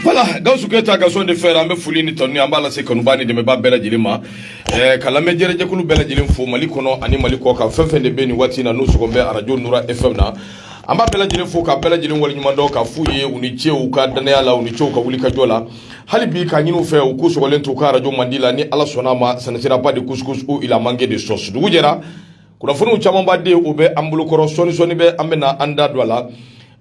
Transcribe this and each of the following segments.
Voilà, Gawusu Keyita Gaston de Fer an bɛ foli ni tanuni an b'a lase kanubaa ni dɛmɛbaa bɛɛ lajɛlen ma ɛɛ ka lamɛn jɛrɛjɛkulu bɛɛ lajɛlen fo Mali kɔnɔ ani Mali kɔ kan fɛn fɛn de bɛ nin waati in na n'u sɔgɔ bɛ arajo Nura FM na an b'a bɛɛ lajɛlen fo ka bɛɛ lajɛlen waleɲuman dɔn k'a f'u ye u ni ce u ka dannaya la u ni ce u ka wulikajɔ la hali bi k'a ɲini u fɛ u k'u sɔgɔlen to u ka arajo mandi la ni Ala sɔnn'a ma ça ne sera pas de couscous où il a manqué de sauce dugu jɛra kunnafoniw camanba de u bɛ an bolokɔrɔ sɔɔni sɔɔni bɛ an bɛna an da don a la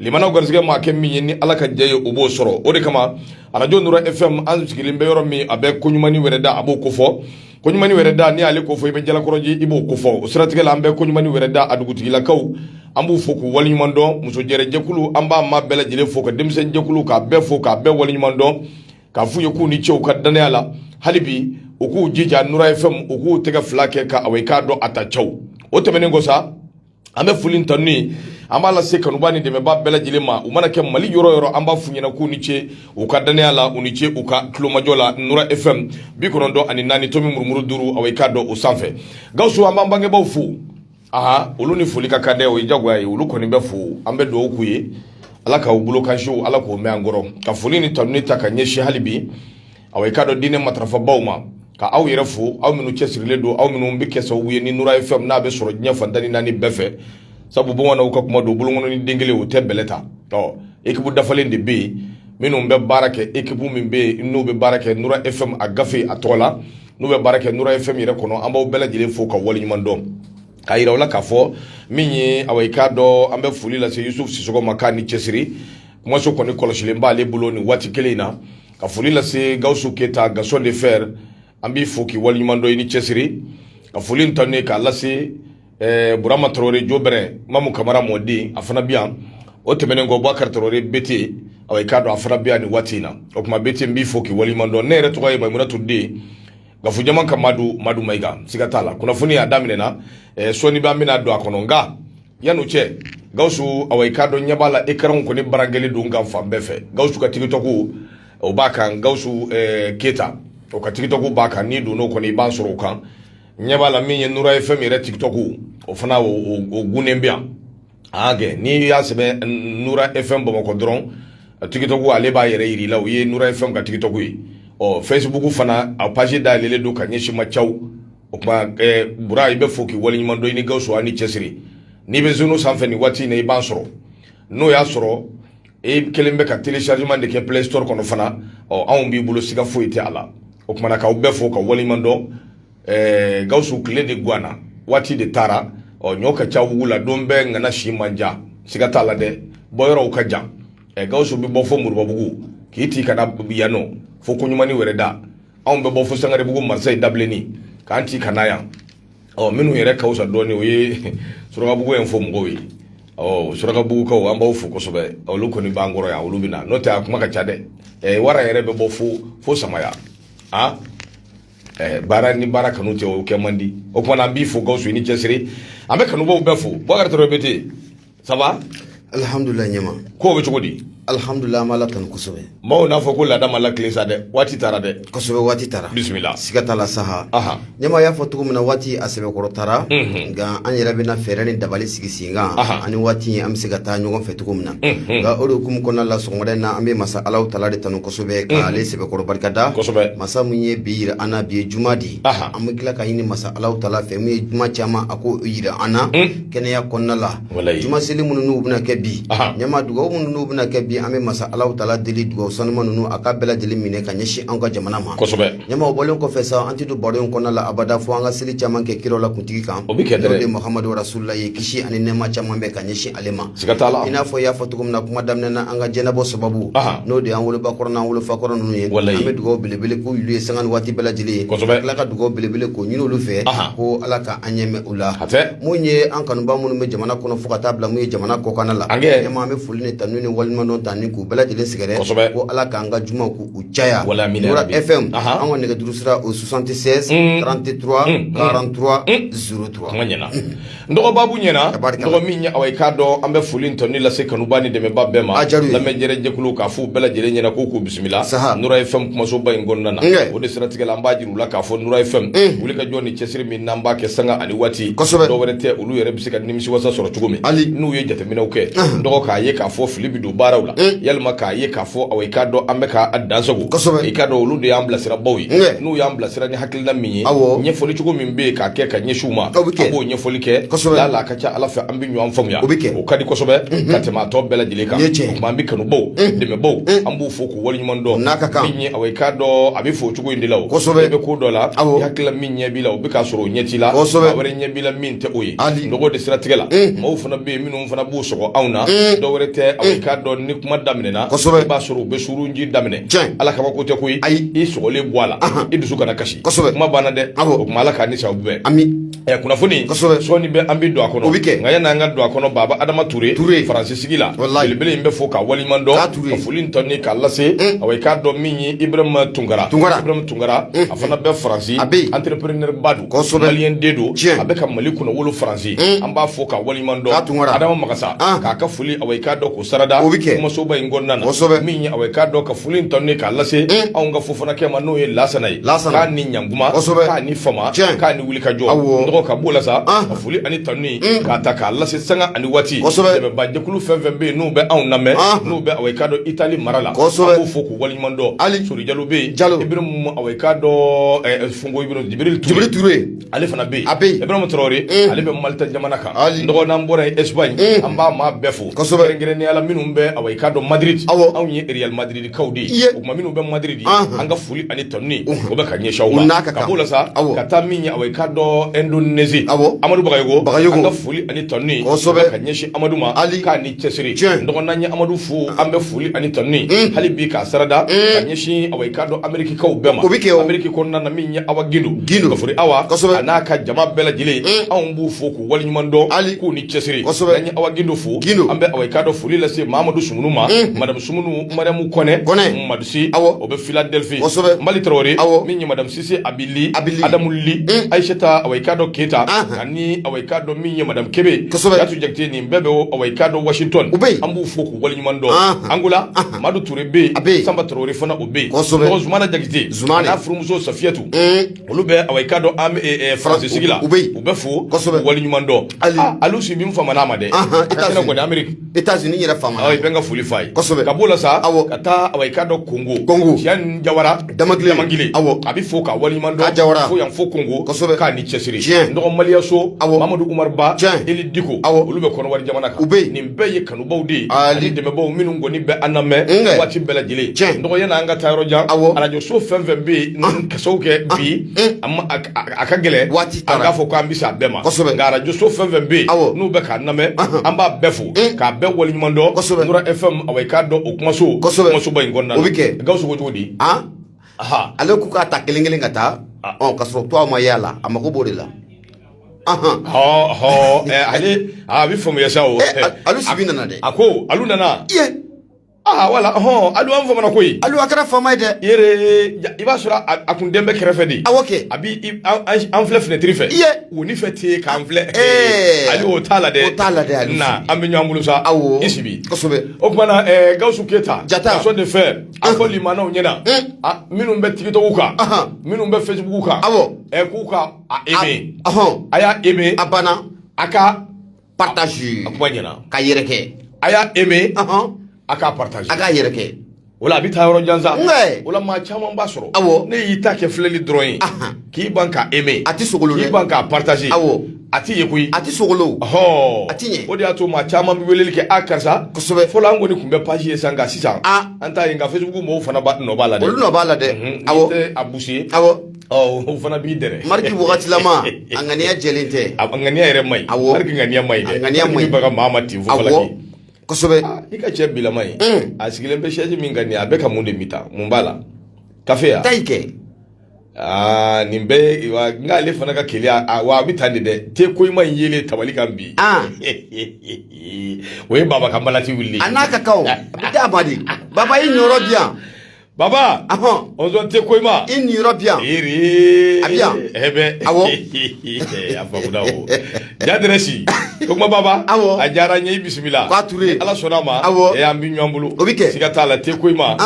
lamɛnnaw garisɛgɛ maa kɛ min ye ni ala ka jɛ ye o b'o sɔrɔ o de kama arajo nura fm an sigilen bɛ yɔrɔ min a bɛ kɔɲumani wɛrɛda a b'o kofɔ kɔɲumani wɛrɛda ni ale kofɔ i bɛ jalakɔrɔji i b'o kofɔ o siratigɛ la an bɛ kɔɲumani wɛrɛda a dugutigilakaw an b'u fo k'u waleɲuman dɔn musojɛrɛjɛkulu an b'a ma bɛɛ lajɛlen fo ka denmisɛnninjɛkulu k'a bɛɛ fo k'a bɛɛ waleɲuman dɔn K'a f'u ye k'u ni ce u ka dannaya la hali bi u k'u jija nura fm u k'u tɛgɛ fila kɛ ka awa i k'a dɔn a ta caw o tɛmɛnen kɔ sa an bɛ foli ni tanuni an b'a lase kanubaa ni dɛmɛbaa bɛɛ lajɛlen ma u mana kɛ mali yɔrɔ yɔrɔ an b'a f'u ɲɛna k'u ni ce u ka dannaya la u ni ce u ka tulomajɔ la nura fm bi kɔnɔntɔn ani naani tomi murumuru duuru awa i k'a dɔn o sanfɛ gawusu an b'an bangebaaw fo aa olu ni foli ka kan dɛ o ye jagoya ye olu kɔni bɛ fo an bɛ dugawu k'u ye ala k'u bolo kansiw ala k'u mɛn an kɔrɔ ka foli ni tanuni ta ka ɲɛsin hali bi aw i k'a dɔn diinɛ matarafabaaw ma ka aw yɛrɛ fo aw minnu cɛsirilen don aw minnu bɛ kɛ sababu ye ni nura fm n'a bɛ sɔrɔ diɲɛ fan tan ni naani bɛɛ fɛ sabu bamananw ka kuma don bolonkɔnnin den kelen o tɛ bɛlɛ ta ɔ ekipu dafalen de bɛ yen minnu bɛ baara kɛ ekipu min bɛ yen n'u bɛ baara kɛ nura fm a gafe a tɔgɔ la n'u bɛ baara kɛ nura fm yɛrɛ kɔnɔ an b'aw bɛɛ lajɛlen fo ka waleɲuman dɔn k'a yira u la k'a fɔ min ye awa i k'a dɔn an bɛ foli lase yusuf sisɔgɔ ma k'a ni cɛsiri kumaso kɔni kɔlɔsilen b'ale bolo nin waati kelen in na ka foli lase gawusu keyita gaston de fer an b'i fo k'i waleɲuman dɔn i ni cɛsiri ka foli ni tanuni k'a lase ɛɛ burama tarawele jobɛrɛ mamu kamara modi a fana bi yan o tɛmɛnen kɔ bakari tarawele bete aw i k'a dɔn a fana bi yan nin waati in na o tuma bete n b'i fo k'i waliɲuman dɔn ne yɛrɛ tɔgɔ ye maimuna ture dite gafu jama ka madamu mayiga siga t'a la kunnafoni a daminɛna ɛɛ sɔɔni b'an bɛna don a kɔnɔ nka yan'o cɛ gawusu awa i k'a dɔn ɲɛ b'a la ekranw kɔni braquélen don an kan fan bɛɛ fɛ gawusu ka tiktok o b'a kan gawusu ɛɛ keyita o ka tiktok b'a kan n'i donn'o kɔnɔ i b'an sɔrɔ o kan ɲɛ b'a la min ye nura fm yɛrɛ tiktok o fana o gunnen bɛ yan a kɛ n'i y'a sɛbɛn nura fm bamakɔ dɔrɔn tiktok ale b'a yɛrɛ yira i la o ye nura fm ka tiktok ye ɔ facebook fana a page dayɛlɛlen don ka ɲɛsin ma caw o tuma bura i bɛ fo k'i waleɲuman dɔn i ni gawusu a ni cɛsiri n'i bɛ zeno sanfɛ nin waati in na i b'a sɔrɔ n'o y'a sɔrɔ e kelen bɛ ka téléchargement de kɛ play store kɔnɔ fana ɔ anw b'i bolo siga foyi tɛ a la o tuma na k'aw bɛɛ fo k'aw waleɲuman dɔn ɛɛ gawusu tile de gwanna waati de taara ɔ ɲɔ ka ca wugu la don bɛɛ ŋana si man jan siga t'a la dɛ bɔyɔrɔw ka jan ɛ gawusu bɛ bɔ fo moribabugu k'i ti ka na yan ɔ fo koɲumani wɛrɛda anw bɛ bɔ fo sangarebugu marseille dabilenni k'an ti ka na yan ɔ minnu yɛrɛ ka fisa dɔɔnin o ye surakabugu yen fɛ mɔgɔw ye ɔ surakabugukaw an b'aw fo kosɛbɛ olu kɔni b'an kɔrɔ yan olu bɛ na n'o tɛ a kuma ka ca dɛ ɛɛ wara yɛrɛ bɛ bɔ fo fo samaya a ɛɛ baara ni baara kanu tɛ o kɛ man di o kuma na an b'i fo gawusu i ni cɛsiri an bɛ kanubaw bɛɛ fo bubakari traoré bɛ di ça va alihamdulilayi ɲama ko bɛ cogo di alihamdulilayi an b'ala tanu kosɛbɛ maaw n'a fɔ ko laada ma latilen sa dɛ waati taara dɛ kosɛbɛ waati taara bisimila siga t'a la saha aha ɲama y'a fɔ cogo min na waati a sɛbɛkɔrɔ taara Mhm. nka an yɛrɛ bɛna fɛɛrɛ ni dabali sigi sen kan Aha. an ni waati an bɛ se ka taa ɲɔgɔn fɛ cogo min na Mhm. nka o de hukumu kɔnɔna la sɔgɔmada in na an bɛ masa ala taala de tanu kosɛbɛ ka ale sɛbɛkɔrɔ barika da kosɛbɛ masa min ye bi yira an na bi ye juma de ye Aha. an bɛ tila k'a ɲini masa ala taala fɛ min ye juma caman a k'o yira an na Mm. kɛnɛya kɔnɔna la juma seli minnu n'u bɛna kɛ bi ɲama dugaw minnu n'u bɛna kɛ bi an bɛ masa ala taala deli dugawu sanuma ninnu a k'a bɛɛ lajɛlen minɛ ka ɲɛsin an ka jamana ma ɲama o bɔlen kɔfɛ sa an tɛ don baro in kɔnɔna la abada fo an ka seli caman kɛ kiraw la kuntigi kan o de mahamadu rasulula ye kisi ani nɛɛma caman bɛ ka ɲɛsin ale ma i n'a fɔ y'a fɔ cogo min na kuma daminɛ na an ka jɛnabɔ sababu n'o de an woloba kɔrɔ n'an wolofa kɔrɔ ninnu ye an bɛ dugawu belebele k'u ye sanga ni waati bɛɛ lajɛlen na ka dugawu belebele k'o ɲini olu fɛ ko ala ka an ɲɛ O la hatɛ mun ye an kanuba minnu bɛ jamana kɔnɔ fo ka taa bila mun ye jamana kɔkan la ɲama an bɛ foli ni tanu ni waleɲumandɔn tan ni k'u bɛɛ lajɛlen sɛgɛrɛ ko ala k'an ka jumaw k'u caya nura fm an ka nɛgɛjuru sira o soixante-seize trente-trois quarante-trois zéro trois ɲɛna dɔgɔ babu ɲɛna dɔgɔ min ɲɛ awɔ i k'a dɔn an bɛ foli tanuni lase kanuba ni dɛmɛba bɛɛ ma lamɛn jɛrɛ jɛkulu k'a f'u bɛɛ lajɛlen ɲɛ na ko k'u bisimila nura fm kumasoba in kɔnɔna na o de siratigɛ an b'a u la k'a fɔ nura fm mm. wuli ka jɔ ni cɛsiri min n'an b'a kɛ sanga ani waati kosɛbɛ dɔ wɛrɛ tɛ olu yɛrɛ bɛ se ka nimisiwasa sɔrɔ cogo min hali n'u ye jateminɛw kɛ mm. dɔgɔ k'a ye k'a fɔ fili bɛ don baaraw la mm. yalima k'a ye k'a fɔ awɔ i k'a dɔn an bɛ k'a dansago kosɛbɛ i k'a dɔn olu de y'an bilasirabaw ye n'u y'an bilasira ni hakilina min ye ɲɛfɔli cogo min bɛ yen k'a kɛ ka ɲɛsin u ma an b'o ɲɛfɔli kɛ kosɛbɛ lala a ka ca ala fɛ an bɛ ɲɔgɔn faamuya o bɛ kɛ o ka di kosɛbɛ mm-hmm. ka tɛmɛ a tɔ bɛɛ lajɛlen kan o tuma an bɛ kanubaw mm-hmm. dɛmɛbaw mm-hmm. an b'u fo waleɲuman dɔn n'a ka kan min ye awɔ i k'a dɔn a bɛ fɔ o cogo in de la o kosɛbɛ i bɛ ko dɔ la awɔ i hakili la min ɲɛ b'i la o bɛ k'a sɔrɔ o ɲɛ t'i la kosɛbɛ a wɛrɛ ɲɛ b'i la min tɛ o ye hali nɔgɔ de siratigɛ la maaw fana bɛ yen minnu fana b'u sɔgɔ anw na dɔ wɛrɛ tɛ awɔ i k'a dɔn ni kuma daminɛna kosɛbɛ i b'a sɔrɔ u bɛ surunji daminɛ tiɲɛ ala kabako tɛ koyi ayi i sɔgɔlen bɔ a la i dusu kana kasi kosɛbɛ kuma banna dɛ awɔ o tuma ala k'an ni sababu bɛn ami Ɛ kunnafoni kosɛbɛ sɔɔni bɛ an bɛ don a kɔnɔ o bɛ kɛ nka yani an ka don a kɔnɔ Baba Adama Ture Ture France sigi la walahi belebele in bɛ fo k'a waleɲuman dɔn Taa Ture ka foli ni tanuni k'a lase un awa i k'a dɔn min ye Ibrahima Tunkara Tunkara Ibrahima Tunkara unhun a fana bɛ France a bɛ yen entrepreneur ba don kosɛbɛ malien den don tiɲɛ a bɛ ka Mali kunnawolo France un an b'a fo k'a waleɲuman dɔn Taa Tunkara Adama Magasa an k'a ka foli awa i k'a dɔn k'o sarada o bɛ kɛ kumasoba in kɔnɔna na kosɛbɛ min ye awa i k'a dɔn ka foli ni tanuni k'a lase un anw ka Fofanakɛ ma n'o ye Laasana ye Laasana k'a ni ɲan k'a ni fama k'a ni wuli ka jɔ dɔgɔ ka b'o la sa ka foli ani tanuni mm. k'a ta k'a lase sanga ani waati dɛmɛba jɛkulu fɛn fɛn bɛ yen n'u bɛ anw lamɛn n'u bɛ awa i k'a dɔn itali mara la an b'u fo k'u waliɲuman dɔn hali sori jalo bɛ yen jalo ibrahima awa i k'a dɔn fungo jibril ture ale fana bɛ yen a bɛ yen ibrahima tarawele mm. ale bɛ malta jamana kan dɔgɔ n'an bɔra yen espagne mm. an b'a maa bɛɛ fo kɛrɛnkɛrɛnnenya la minnu bɛ awa i k'a dɔn madrid anw ye real madrid kaw de ye o tuma minnu bɛ madrid an ka foli ani tanuni o bɛ ka ɲɛsin u ma ka b'o la sa ka taa min ye awa i k'a dɔn ɛndonezi amadu bagayogo bagayogo an ka foli ani tanuni kosɛbɛ ka ɲɛsin amadu ma hali k'a ni cɛsiri dɔgɔ n'an ye amadu fo an bɛ foli ani tanuni hali bi k'a sarada ka ɲɛsin awa i k'a dɔn amerikikaw bɛɛ ma o bɛ kɛ ameriki kɔnɔna na min ye awa gindo gindo ka foli awa kosɛbɛ a n'a ka jama bɛɛ lajɛlen anw b'u fo k'u waleɲuman dɔn hali k'u ni cɛsiri kosɛbɛ n'an ye awa gindo fo gindo an bɛ awa i k'a dɔn foli lase mamadu sumunu ma madamu sumunu mariamu kɔnɛ kɔnɛ madusi awɔ o bɛ philadelphie kosɛbɛ mali tarawele awɔ min ye madame sise abili abili adamu li mm. aïssata awa i k'a dɔn keita ani awa i k'a dɔn min ye madame kebe kosɛbɛ yatu jakite nin bɛɛ bɛ awa i k'a dɔn washington u bɛ an b'u fo k'u waleɲuman dɔn angola madu ture bɛ yen a bɛ sanba tarawele fana o bɛ yen kosɛbɛ dɔgɔ zumana jakite zumana n'a furumuso safiyatu mm. olu bɛ awa i k'a dɔn an eh, eh, faransi sigi la u bɛ u bɛ fo kosɛbɛ waleɲuman dɔn alu sibi famana an ma dɛ a tɛna kɔni ameriki états-unis yɛrɛ famana i bɛ n ka foli f'a ye ka b'o la sa awɔ ka taa awa i k'a dɔn kongo jawara damangile awɔ a bɛ fo k'a waliɲuman dɔn jawara fo yan fo kongo k'a ni cɛsiri dɔgɔ maliyaso awɔ mamadu umar ba eli diko awɔ olu bɛ kɔnɔwari jamana kan u bɛ nin bɛɛ ye kanubaw de ye ni dɛmɛbaw minnu kɔni bɛ an lamɛn waati bɛɛ lajɛlen dɔgɔ yan'an ka taa yɔrɔ jan awɔ arajoso fɛn fɛn bɛ yen ka kɛ bi a ka gɛlɛn waati an k'a fɔ ko an bɛ se a bɛɛ ma kosɛbɛ nka arajoso fɛn fɛn bɛ yen n'u bɛ k'a lamɛn an b'a bɛɛ fo eh. k'a bɛɛ waleɲuman dɔn kosɛbɛ nura fm awa i k'a dɔn o kumaso kosɛbɛ kumasoba in kɔnɔna na o bɛ kɛ gawusu ko cogo di ah? ale k'u k'a ta kelen kelen ka taa ah. ɔ ka sɔrɔ tuwa ma y'a la a mago b'o de la hɔ eh, ale a bɛ faamuya sa o eh, alu sibi nana dɛ a ko alu nana aa wala hɔn alu an famana koyi alu a kɛra faama ye dɛ yere i b'a sɔrɔ a kun den bɛ kɛrɛfɛ de awɔ kɛ a bi an filɛ fenêtre fɛ iye wonin fɛ tɛ k'an filɛ ali o t'a la dɛ o t'a la dɛ ali na an bɛ ɲɔgɔn bolo sa awɔ i sibi kosɛbɛ o tuma na gawusu keyita jata ka so de fɛ a fɔ limanaw ɲɛna minnu bɛ TikTok kan minnu bɛ Facebook kan awɔ k'u ka a aimer a y'a aimer a banna a ka partage a kuma ɲɛna k'a yɛrɛkɛ a y'a aimer a k'a partage a k'a yɛrɛkɛ o la a bɛ taa yɔrɔ jan sa o la maa caman b'a sɔrɔ awɔ n'i y'i ta kɛ filɛli dɔrɔn ye k'i ban k'a aimer a tɛ sogolo dɛ k'i ban k'a partage awɔ a tɛ ye koyi a tɛ sogolo ɔhɔɔ a tɛ ɲɛ o de y'a to maa caman bɛ weleli kɛ a karisa kosɛbɛ fɔlɔ an kɔni tun bɛ page ye sa nka sisan an t'a ye nka Facebook mɔgɔw fana b'a nɔ b'a la dɛ olu nɔ b'a la dɛ awɔ n'i tɛ a bouger awɔ O fana b'i dɛ Mark wagatilama a ŋaniya jɛlen tɛ a ŋaniya yɛrɛ man ɲi ŋaniya man ɲi ŋaniya man ɲi baga maa ma ten fɔ kosɛbɛ i ka cɛ bilama ye a sigilen bɛ chaise min kan nin a bɛ ka mun de min ta mun b'a la kafe ta i kɛ aa nin bɛɛ n'ale fana ka kelen wa a bɛ taa nin dɛ te Koyima yɛlɛn tabali kan bi o ye baba ka balati wuli a n'a ka di baba i niyɔrɔ bɛ yan Baba oson te Koyima i niyɔrɔ bɛ yan a bɛ yan e bɛ a fa jasi ko baba awɔ a diyara n ye i bisimila k'a tun ala sɔnn'a ma aw e y'an bɛ ɲɔgɔn bolo o bɛ kɛ siga t'a la te Koyima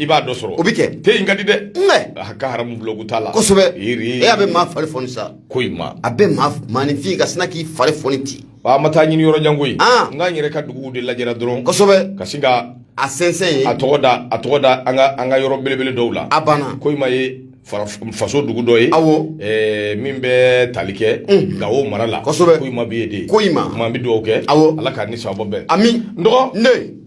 i b'a dɔ sɔrɔ o bɛ kɛ te in ka di dɛ a ka haramu ko t'a la kosɛbɛ e' bɛ maa fari foni sa Koyima a bɛ maa magnifique a sina k'i fari foni ci Wa an ma taa ɲini yɔrɔ jan koyi. An! Nka an yɛrɛ ka duguw de lajɛra dɔrɔn. Kosɛbɛ! Ka sin ka. A sɛnsɛn yen. A tɔgɔ da, a tɔgɔ da an ka, an ka yɔrɔ belebele dɔw la. A banna! Koyima ye faraf faso dugu dɔ ye. Awɔ! Ɛɛ min bɛ tali kɛ. Unhun! Gawo mara la. Kosɛbɛ! Koyima bɛ yen de. Ko in ma! O tuma an bɛ dugawu kɛ. Awɔ! Ala k'a ni sababa bɛn. Ami! N dɔgɔ! N den!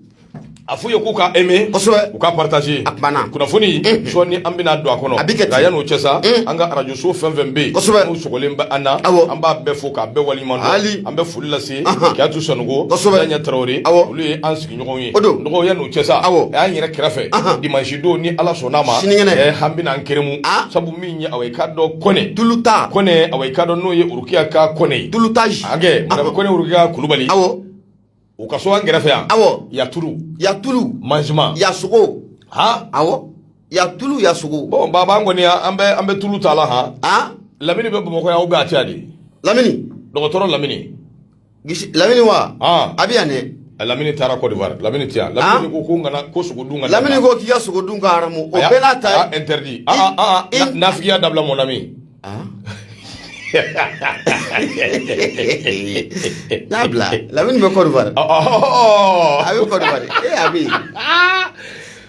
a f'u ye k'u ka aimer kosɛbɛ u ka partager a banna kunnafoni sɔɔni an bɛna don a kɔnɔ a bɛ kɛ ten nka yan'o cɛ sa an ka arajo so fɛn fɛn bɛ yen kosɛbɛ n'u sɔgɔlen bɛ an na awɔ an b'a bɛɛ fo k'a bɛɛ waleɲuman dɔn hali an bɛ foli lase Kiyatu Sanogo kosɛbɛ Daɲɛ Tarawele awɔ olu ye an sigiɲɔgɔnw ye o don n dɔgɔ yan'o cɛ sa awɔ a y'an yɛrɛ kɛrɛfɛ dimanche don ni Ala sɔnn'a ma sinikɛnɛ an bɛna an keremu sabu min ye awɔ i k'a dɔn Kɔnɛ tuluta Kɔnɛ awɔ i k'a dɔn n'o ye Rokiya ka Kɔnɛ ye tulutage hakɛ madame Kɔnɛ Rokiya Kulubali awɔ u ka so an kɛrɛfɛ yan awɔ ya tulu ya tulu manjima ya sogo ha awɔ ya tulu ya sogo bon baba an kɔni an bɛ an bɛ tulu ta la han a lamini bɛ bamakɔ yan ou bien a tɛ yan de lamini dɔgɔtɔrɔ lamini gisi lamini wa a bɛ yan dɛ lamini taara Côte d'Ivoire lamini ti yan lamini ko ko n kana ko sogo dun ka lamini ko k'i ka sogo dun ka haramu o bɛɛ n'a ta ye interdit a a nafigiya dabila mon ami Ah. n'a bila lamini bɛ Côte d'Ivoire a bɛ Côte d'Ivoire e a bɛ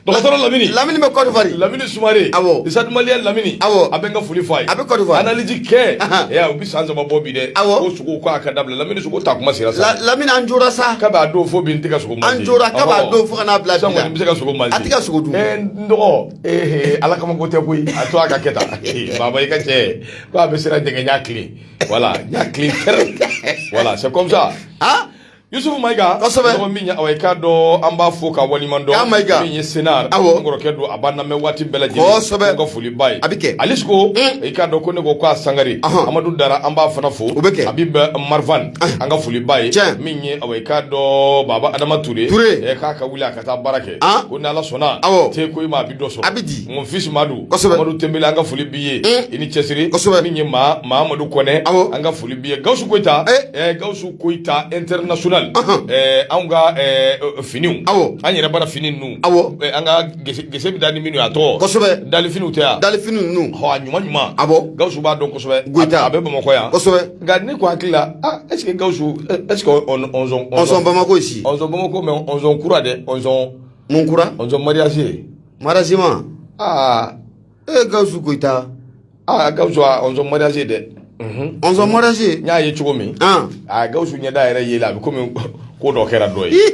dɔgɔtɔrɔ lamini lamini bɛ Côte d'Ivoire lamini sumare Stade Malien lamini a a bɛ n ka foli fɔ a ye a bɛ Côte d'Ivoire analyse kɛ ɛ u bɛ san saba bɔ bi dɛ aw ko sogo ko a ka dabila lamini sogo ta kuma sera sa lamini an jɔra sa ka b'a don fo bi n tɛ ka sogo an jɔra ka b'a don fo ka n'a bila bɛ se ka sogo ma a tɛ ka sogo dun dɔgɔ ee ala kama ko tɛ koyi a to a ka kɛ tan baba i ka cɛ ko a bɛ siran jɛgɛ ɲa tilen voilà ɲa tilen tɛrɛ voilà c'est comme ça ah yusufu mayiga kosɛbɛ mɔgɔ min ye awa i k'a dɔn an b'a fo ka waliɲuman dɔn k'a mayiga min ye senar awɔ n kɔrɔkɛ don a b'a lamɛn waati bɛɛ lajɛlen kosɛbɛ n ka foli b'a ye a bɛ kɛ alis ko i k'a dɔn ko ne ko k'a sangare amadu dara an b'a fana fo o bɛ kɛ habib marvan an ka foli b'a ye tiɲɛ min ye awa i k'a dɔn baba adama ture ture k'a ka wuli a ka taa baara kɛ ko ni ala sɔnna te koyima bɛ dɔ sɔrɔ a bɛ di mon fils madu amadu tɛmbɛli an ka foli b'i ye i ni cɛsiri min ye mamadu kɔnɛ an ka foli b'i ye gawusu koyita gawusu koyita international anw ka finiw an yɛrɛ bara fini ninnu aw an ka gese bɛ da ni minnu a tɔgɔ kosɛbɛ dali finiw tɛ yan dali fini ninnu ɲuman ɲuman a gawusu b'a dɔn kosɛbɛ a bɛ bamakɔ yan nka ne ko hakili la ah est ce que gawusu est ce que ɔn ɔnzɔn ɔnzɔn bamako si ɔnzɔn bamako mais ɔnzɔn kura dɛ ɔnzɔn mun kura ɔnzɔn mariage mariage ma aa ee gawusu koyita aa gawusu a ɔnzɔn mariage dɛ ɔnzɔn mariage n y'a ye cogo min an aa gawusu ɲɛda yɛrɛ yeli a bɛ komi ko dɔ kɛra dɔ ye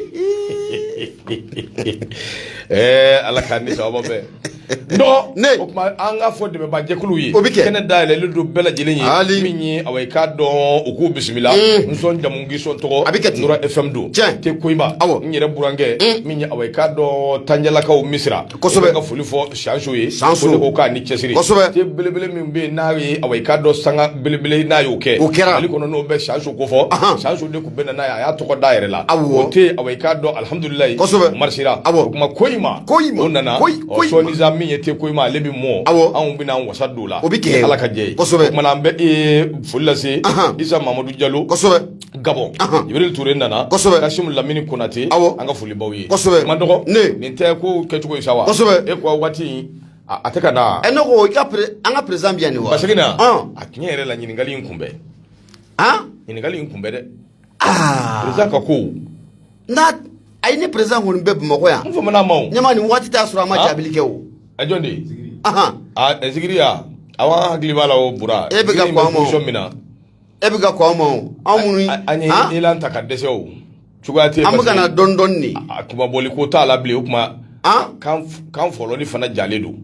ɛɛ ala k'an ni sababa bɛn o tuma an ka fɔ dɛmɛbajɛkulu ye o bɛ kɛ kɛnɛ dayɛlɛlen don bɛɛ lajɛlen ye hali min ye awa i k'a dɔn u k'u bisimila n sɔn jamu k'i sɔn tɔgɔ a bɛ kɛ Nura FM don tiɲɛ te Koyima awɔ n yɛrɛ burankɛ min ye awa i k'a dɔn Tandialakaw Misira kosɛbɛ n ka foli fɔ Sanso ye Sanso ko ne ko k'a ni cɛsiri kosɛbɛ te belebele min bɛ yen n'a ye awa i k'a dɔn sanga belebele n'a y'o kɛ o kɛra Mali kɔnɔ n'o bɛ Sanso ko fɔ Sanso de ko bɛ nana a y'a tɔgɔ da yɛrɛ la o te awa i k'a dɔn alihamudulila kosɛbɛ marisira a o kuma koyima o nana sɔɔni min ye te koyima ale bɛ mɔ aw anw bɛna wasa don la o bɛ kɛ ala ka jɛ kosɛbɛ tuma an bɛ foli lase isa mamadu jalo kosɛbɛ gabɔn jibril ture nana kosɛbɛ kasimu lamini konatɛ aw an ka foli b'aw ye kosɛbɛ ma dɔgɔ ne nin tɛ ko kɛcogo ye sa wa kosɛbɛ e ko waati a tɛ ka na e ne ko i ka an ka président bɛ yan nin wa a tiɲɛ yɛrɛ la ɲininkali in kunbɛn ɲininkali in kunbɛn dɛ président ka ko n'a a ye ne président kɔni bɛ bamakɔ yan n fana ma ɲama nin waati t'a sɔrɔ a ma jaabili kɛ o a jɔn de ye aw hakili b'a la o bura e bɛ ka kɔn position min na e bɛ ka kɔn an ma o anw minnu an ye élan ta ka dɛsɛ o cogoya tɛ an bɛ ka na dɔɔni dɔɔni de a kuma bɔli ko t'a la bilen o kuma kan fɔlɔli fana jalen don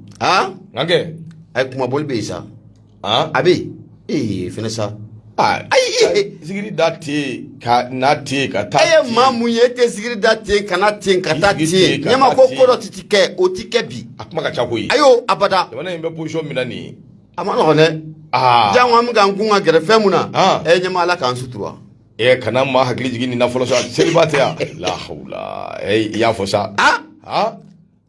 nka kɛ a ye kuma bɔli bɛ yen sa a bɛ yen fɛnɛ sa ayi da ka na ten ka taa e ye maa mun ye e tɛ zigiri da ten ka na ten ka taa ɲama ko kɔrɔ tɛ tɛ kɛ o tɛ kɛ bi a kuma ka ca koyi a y'o abada jamana in bɛ position min na nin ye a man nɔgɔn dɛ jan an bɛ an kun ka gɛrɛ fɛn mun na e ɲama ala k'an sutura ɛ kana maa hakili jigin nin na fɔlɔ sa seliba tɛ yan lahawula i y'a fɔ sa aa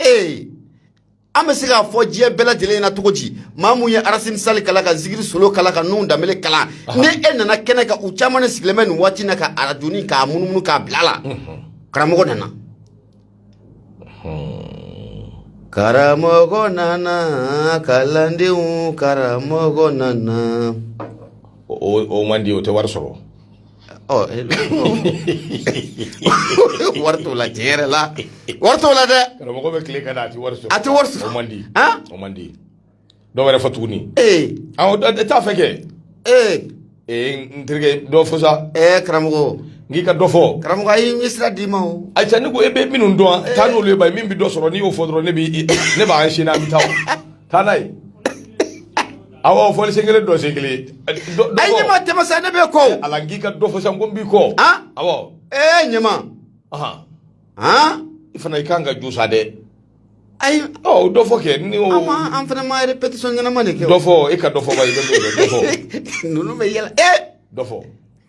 ee an bɛ se k'a fɔ diɲɛ bɛɛ lajɛlen na cogo di maa mun ye arasini sali kalan ka zigiri solo kalan ka nun danbele kalan ni e nana kɛnɛ kan u caman de sigilen bɛ nin waati na ka arajoni k'a munumunu k'a bila la karamɔgɔ nana karamɔgɔ nana kalandenw karamɔgɔ nana o man di o tɛ wari sɔrɔ ɔ wari t'o la tiɲɛ yɛrɛ la wari t'o la dɛ karamɔgɔ bɛ tile ka na a tɛ wari sɔrɔ a tɛ wari sɔrɔ o man di han o man di dɔ wɛrɛ fɔ tuguni ee awɔ dɔ- dɔ- t'a fɛ kɛ ee ee n terikɛ dɔ fɔ sa ee karamɔgɔ n k'i ka dɔ fɔ karamɔgɔ a y'i ɲɛ sira d'i ma o ayi sa ne ko e bɛ minnu dɔn a, taa n'olu ye ba ye min bɛ dɔ sɔrɔ n'i y'o fɔ dɔrɔn ne b'i ne b'a enchaîner an bɛ taa o taa n'a ye awɔ fɔli sen kelen dɔn sen kelen ayi ɲama tɛmɛ sa ne b'i kɔ ala n k'i ka dɔ fɔ sa n ko n b'i kɔ awɔ ee ɲama i fana i kan ka ju sa dɛ ayi ɔ dɔ fɔ kɛ ɲama an fana ma répétition ɲɛnama de kɛ dɔ fɔ e ka dɔ fɔ ba i bɛ dɔ fɔ ninnu bɛ yɛlɛ ee dɔ fɔ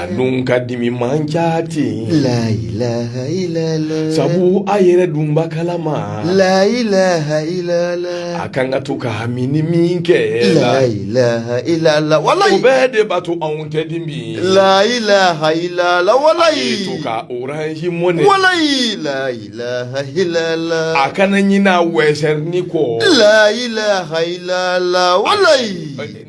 an dun ka dimi man ca ten sabu a yɛrɛ dun b'a kalama a kan ka to ka hami ni min kɛ walayi o bɛɛ de b'a to anw tɛ dimi walayi to ka orange money walayi a kana ɲinɛ western kɔ wala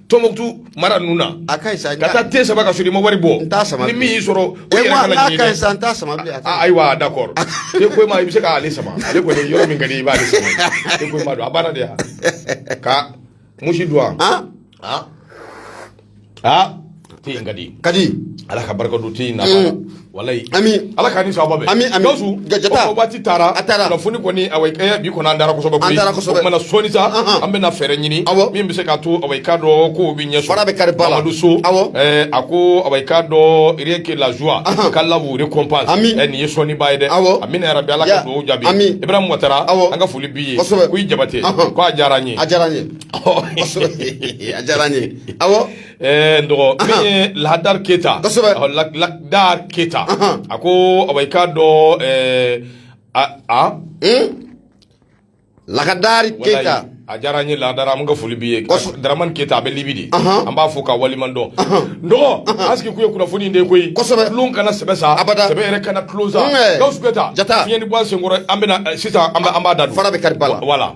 Tumutu mara ninnu na a ka ka taa te sama ka sɔrɔ i ma wari bɔ ni min y'i sɔrɔ ayiwa d'accord te ko ma i bɛ se k'ale sama ale kɔni yɔrɔ min ka di i b'ale sama te ko ma don a banna de yan ka musi don aa aa te in ka di ka di ala ka barika don te in na walayi ami ala k'an ni sababu bɛn ami ami gawusu gajata waati taara a taara kunnafoni kɔni awa ɛɛ bi kɔni an dara kosɛbɛ an dara kosɛbɛ o kumana sɔɔni sa an bɛna fɛɛrɛ ɲini awɔ min bɛ se k'a to awa i k'a dɔn kow bɛ ɲɛ sɔrɔ fara bɛ kari ba la mamadu so awɔ ɛɛ a ko awa i k'a dɔn rien que la joie qu'Allah vous récompense ami ɛ nin ye sɔɔni ba ye dɛ awɔ amina yarabi ala ka dugawu jaabi ami ibrahim watara awɔ an ka foli b'i ye kosɛbɛ koyi jabate ko a diyara an ye a diyara an ye kosɛbɛ a diyara an ye awɔ Ɛɛ n dɔgɔ min ye lahadari keyita ladari keyita a ko awɔ i k'a dɔn a laadari keyita a diyara n ye ladari an ka foli b'i ye daramani keyita a bɛ libi de an b'a fo k'a waleɲuman dɔn n dɔgɔ an sigikun ye kunnafoni de koyi tulon kana sɛbɛ sa sɛbɛ yɛrɛ kana tulon sa gawusu keyita fɛn in bɔ an sen kɔrɔ an bɛ sisan an b'a da fara bɛ kari wala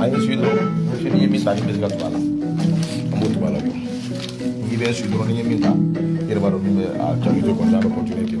Ayi su dɔrɔn su ni ye min ta n'i bɛ se ka tugu a la an b'o tugu a la bi n'i bɛ su dɔrɔn ni ye min ta i yɛrɛ b'a dɔn min bɛ a jaabi to kɔni a bɛ kɔntiniye ten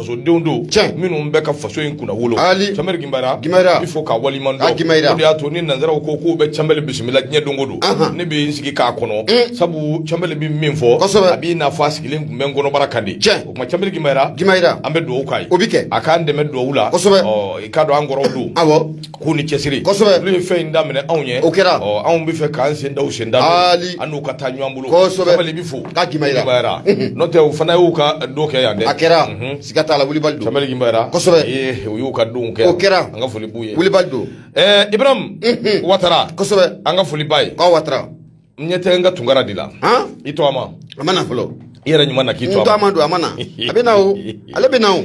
fasodenw don minnu bɛ ka faso in kunnawolo canbɛli ginbayara bɛ fo k'a waleɲuman dɔn o de y'a to ni nansaraw ko k'u bɛ canbɛli bisimila diɲɛ don o don ne bɛ n sigi k'a kɔnɔ sabu canbɛli bɛ min fɔ a b'i n'a fɔ a sigilen tun bɛ n kɔnɔbara kan de o kama canbɛli ginbayara ginbayara an bɛ dugawu k'a ye o bɛ kɛ a k'an dɛmɛ dugawu la i k'a dɔn an kɔrɔw don k'u ni cɛsiri kosɛbɛ olu ye fɛn in daminɛ anw ye o kɛra ɔ anw b'a fɛ k'an sen da u sen da ali an n'u ka taa ɲɔgɔn bolo kosɛbɛ canbɛli bɛ fo k'a ginbayara n'o tɛ u fana y'u ka don kɛ yan dɛ a kɛra siga t'a la Wilibali don canbɛli ginbayara kosɛbɛ ee u y'u ka don kɛ o kɛra an ka foli b'u ye Wilibali don ɛɛ Ibarahimu Watara kosɛbɛ an ka foli b'a ye k'a Watara n ɲɛ tɛ n ka tunkara de la i tɔgɔma a ma na fɔlɔ i yɛrɛ ɲuman na k'i tɔgɔma n tɔgɔma don a ma na a bɛ na o ale bɛ na o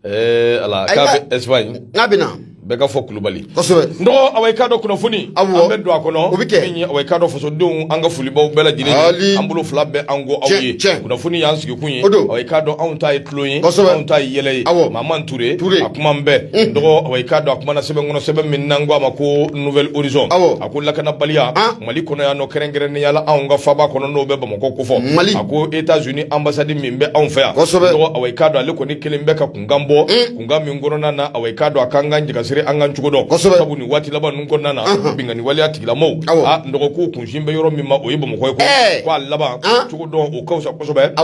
Ee ala k'a bɛ Espagne k'a bɛ na bɛɛ ka fɔ kulubali kosɛbɛ n dɔgɔ awɔ i k'a dɔn kunnafoni an bɛ don a kɔnɔ o bɛ kɛ awɔ i k'a dɔn fasodenw an ka foli b'aw bɛɛ lajɛlen ye an bolo fila bɛ an ko aw ye kunnafoni y'an sigikun ye awɔ i k'a dɔn anw ta ye tulon ye anw ta ye yɛlɛ ye awɔ maman ture a kuma bɛ n dɔgɔ awɔ i k'a dɔn a kumana sɛbɛn kɔnɔ sɛbɛn min n'an ko a ma ko Nouvel Horizon a ko lakanabaliya mali kɔnɔ yan ni kɛrɛnkɛrɛnnenya la anw ka faaba kɔnɔ n'o bɛ bamakɔ kofɔ mali a ko États-Unis anbasadi min bɛ anw fɛ yan awɔ i k'a dɔn ale kɔni kelen bɛ ka kunkan bɔ mm. kunkan min kɔnɔna na awɔ i k'a dɔn a k'an ka jagasiri an ka cogo dɔn sabu nin waati laban ninnu kɔnɔna na binkanni waleya tigilamɔgɔw n dɔgɔ k'u kunsin bɛ yɔrɔ min ma o ye bamakɔ ye ko k'a laban cogo dɔn o ka fisa kosɛbɛ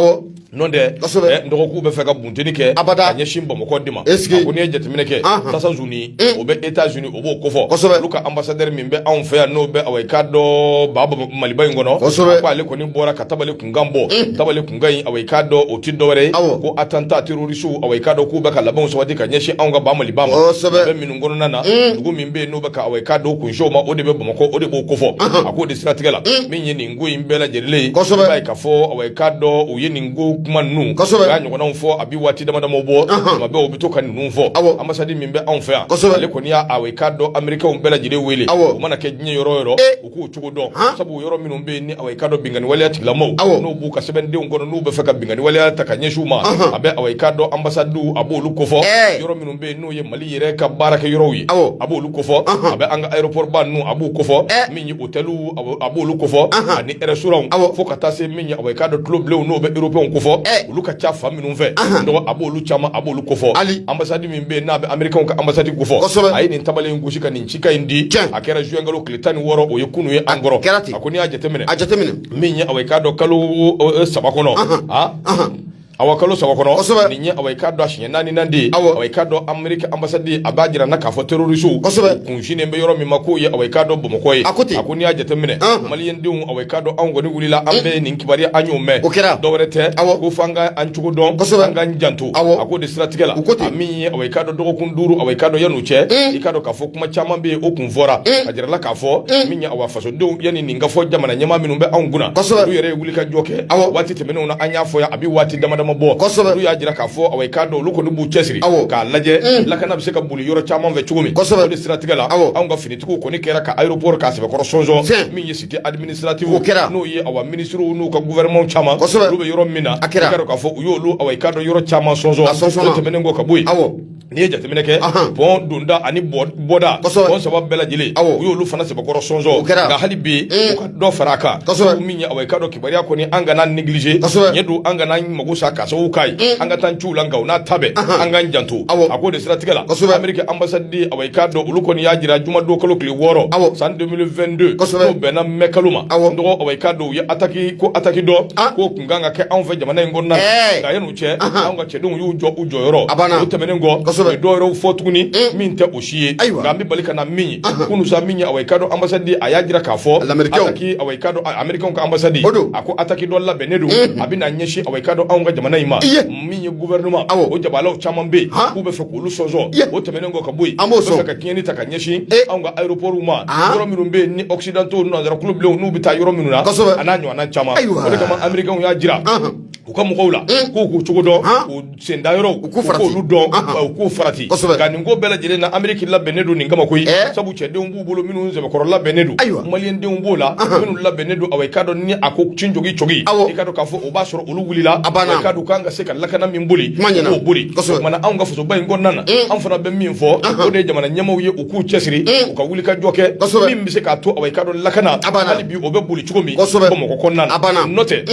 N'o tɛ n dɔgɔ k'u b'a fɛ ka bunteni kɛ ka ɲɛsin bamakɔ de ma ko n'i ye jateminɛ kɛ tasazuni o bɛ États-Unis o b'o kofɔ olu ka anbasadɛri min bɛ anw fɛ yan n'o bɛ awɔ i k'a dɔn ba maliba in kɔnɔ k'ale kɔni bɔra ka tabali kunkan bɔ tabali kunkan in awɔ i k'a dɔn o tɛ dɔwɛrɛ ko attentat terroriste awɔ i k'a dɔn k'u bɛ ka labɛn sabati ka ɲɛsin anw ka ba mali ma bɛ minnu kɔnɔna na dugu min bɛ yen n'u bɛ ka awɔ i k'a dɔn kunsin a ma o de bɛ bamakɔ o de b'o kofɔ a k'o de siratigɛ la min n ko in bɛɛ lajɛlen kosɛbɛ i b'a ye k'a fɔ awa i k'a dɔn u ye nin ko kuma ninnu kosɛbɛ u y'a ɲɔgɔnnaw fɔ a bi waati dama damaw bɔ tuma bɛɛ u bɛ to ka ninnu fɔ awɔ anbasadi min bɛ anw fɛ yan kosɛbɛ ale kɔni y'a awa i k'a dɔn amerikɛnw bɛɛ lajɛlen wele awɔ u mana kɛ diɲɛ yɔrɔ o yɔrɔ u k'u cogo dɔn sabu yɔrɔ minnu bɛ yen ni awa i k'a dɔn binkanni waleya tigilamɔgɔw awɔ n'u b'u ka sɛbɛndenw kɔnɔ n'u bɛ fɛ ka binkanni waleya ta ka ɲɛsin u ma a bɛ awa i k'a dɔn anbasadiw a b'olu kofɔ yɔrɔ minnu bɛ yen n'o ye mali yɛrɛ ka baarakɛ yɔrɔw ye awɔ a b'olu kofɔ a bɛ an ka aéroport ba ninnu a b'u kofɔ otɛliw a b'olu kofɔ ani restaurantw fo ka taa se min ye awa i k'a dɔn tulobilenw n'o bɛ européenw kofɔ olu ka ca fan minnu fɛ dɔgɔ a b'olu caman a b'olu kofɔ hali anbasadi min bɛ yen n'a bɛ amerikɛnw ka anbasadi kofɔ a ye nin tabale in gosi ka nin cikan in di a kɛra juin kalo tile tan ni wɔɔrɔ o ye kunun ye an kɔrɔ kɛra ten a ko n'i y'a jateminɛ a jateminɛ min ye awa i k'a dɔn kalo saba kɔnɔ Awa kalo saba kɔnɔ kosɛbɛ nin ye awa i k'a dɔn a siɲɛ naaninan de ye awɔ awa i k'a dɔn Ameriki anbasadi a b'a jira an na k'a fɔ terorisiw kosɛbɛ u kun sinnen bɛ yɔrɔ min ma k'o ye awa i k'a dɔn Bamako ye a ko ten a ko n'i y'a jateminɛ ɔnhɔn maliyɛndenw awa i k'a dɔn anw kɔni wulila an bɛɛ nin kibaruya an y'o mɛn o kɛra dɔwɛrɛ tɛ awɔ ko f'an ka an cogo dɔn kosɛbɛ an k'an janto awɔ a k'o de siratigɛ la u ko ten a min ye awa i k'a dɔn dɔgɔkun 5 awa i k'a dɔn yan'o cɛ i k'a dɔn k'a fɔ kuma caman bɛ yen o kun fɔra a jirala k'a fɔ min ye awa f fasodenw yanni nin ka fɔ jamana ɲɛmaa minnu bɛ anw kunna kosɛbɛ olu yɛrɛ ye wulikajɔ kɛ awɔ waati tɛmɛnenw na an y'a fɔ yan a bɛ waati dama dama bɔ kosɛbɛ olu y'a jira k'a fɔ awɔ i k'a dɔn olu kɔni b'u cɛsiri awɔ k'a lajɛ mm. lakana bɛ se ka boli yɔrɔ caman fɛ cogo min kosɛbɛ o de siratigɛ la awɔ anw ka finitigiw kɔni kɛra ka aéroport k'a sɛbɛkɔrɔ sɔnsɔn min ye cité administrative o kɛra n'o ye awa minisiriw n'u ka gouvernement caman kosɛbɛ olu bɛ yɔrɔ min na a kɛra i k'a dɔn k'a fɔ u y'olu awɔ i k'a dɔn yɔrɔ caman sɔnsɔn a sɔnsɔnna o tɛmɛnen kɔ ka bɔ yen awɔ N'i ye jateminɛ kɛ pɔn donda ani bɔda pɔn saba bɛɛ lajɛlen u y'olu fana sɛbɛkɔrɔ sɔnsɔn kɛra nka hali bi u ka dɔ fara a kan min ye awa i k'a dɔn kibaruya kɔni an kana négliger ɲɛ don an kana mako sa k'a sababu k'a ye an ka taa ciw la nka o n'a ta bɛɛ an k'an janto a ko de siratigɛ la Ameriki anbasadi awa i k'a dɔn olu kɔni y'a jira jumadon kalo tile wɔɔrɔ awɔ san 2022 n'o bɛnna mɛ kalo ma dɔgɔ awa i k'a dɔn u ye a ko ataki dɔ kan ka kɛ anw fɛ jamana in kɔnɔna nka yan'o cɛ anw ka cɛdenw y'u jɔ u jɔyɔrɔ a o tɛmɛnen kɔ dɔwɛrɛw fɔ tuguni min tɛ o si ye nka an bɛ bali ka na min ye kunun sa min ye awa i k'a dɔn anbasadi a y'a jira k'a fɔ lameriki ka anbasadi a ko ataki dɔ labɛnnen don a bɛna ɲɛsin awa i k'a dɔn anw ka jamana in ma min ye gouvernement awɔ o jabalaw caman bɛ yen han k'u bɛ fɛ k'olu sɔnsɔn ye o tɛmɛnen kɔ ka bɔ yen an b'o sɔn u bɛ fɛ ka tiɲɛni ta ka ɲɛsin ee anw ka aéroportw ma aa yɔrɔ minnu bɛ yen ni occidentaux nanzara kuloblenw n'u bɛ taa yɔrɔ minnu na kosɛbɛ a n'a ɲɔgɔnna caman ayiwaa o de kama américainw y'a jira anhan u ka mɔgɔw la un k'u k'u cogo dɔn han u sen da yɔrɔw u k'u farati u k'olu dɔn anhan ba u k'u farati kosɛbɛ nka nin ko bɛɛ lajɛlen na Amérique labɛnnen don nin kama koyi ɛɛ sabu cɛdenw b'u bolo minnu sɛbɛkɔrɔ labɛnnen don ayiwa maliyɛn denw b'o la minnu labɛnnen don awɔ i k'a dɔn ni a ko cin jogin cogo i k'a dɔn k'a fɔ o b'a sɔrɔ olu wulila a banna i k'a dɔn k'an ka se ka lakana min boli k'o boli o ɲɛma na anw ka fasoba in kɔnɔna na an fana bɛ min fɔ o de ye jamana ɲɛmaaw ye u k'u cɛsiri u ka wuli ka jɔ kɛ min bɛ se k'a to awɔ i k'a dɔn lakana hali bi o bɛ boli cogo min Bamakɔ kɔnɔna na a banna n'o tɛ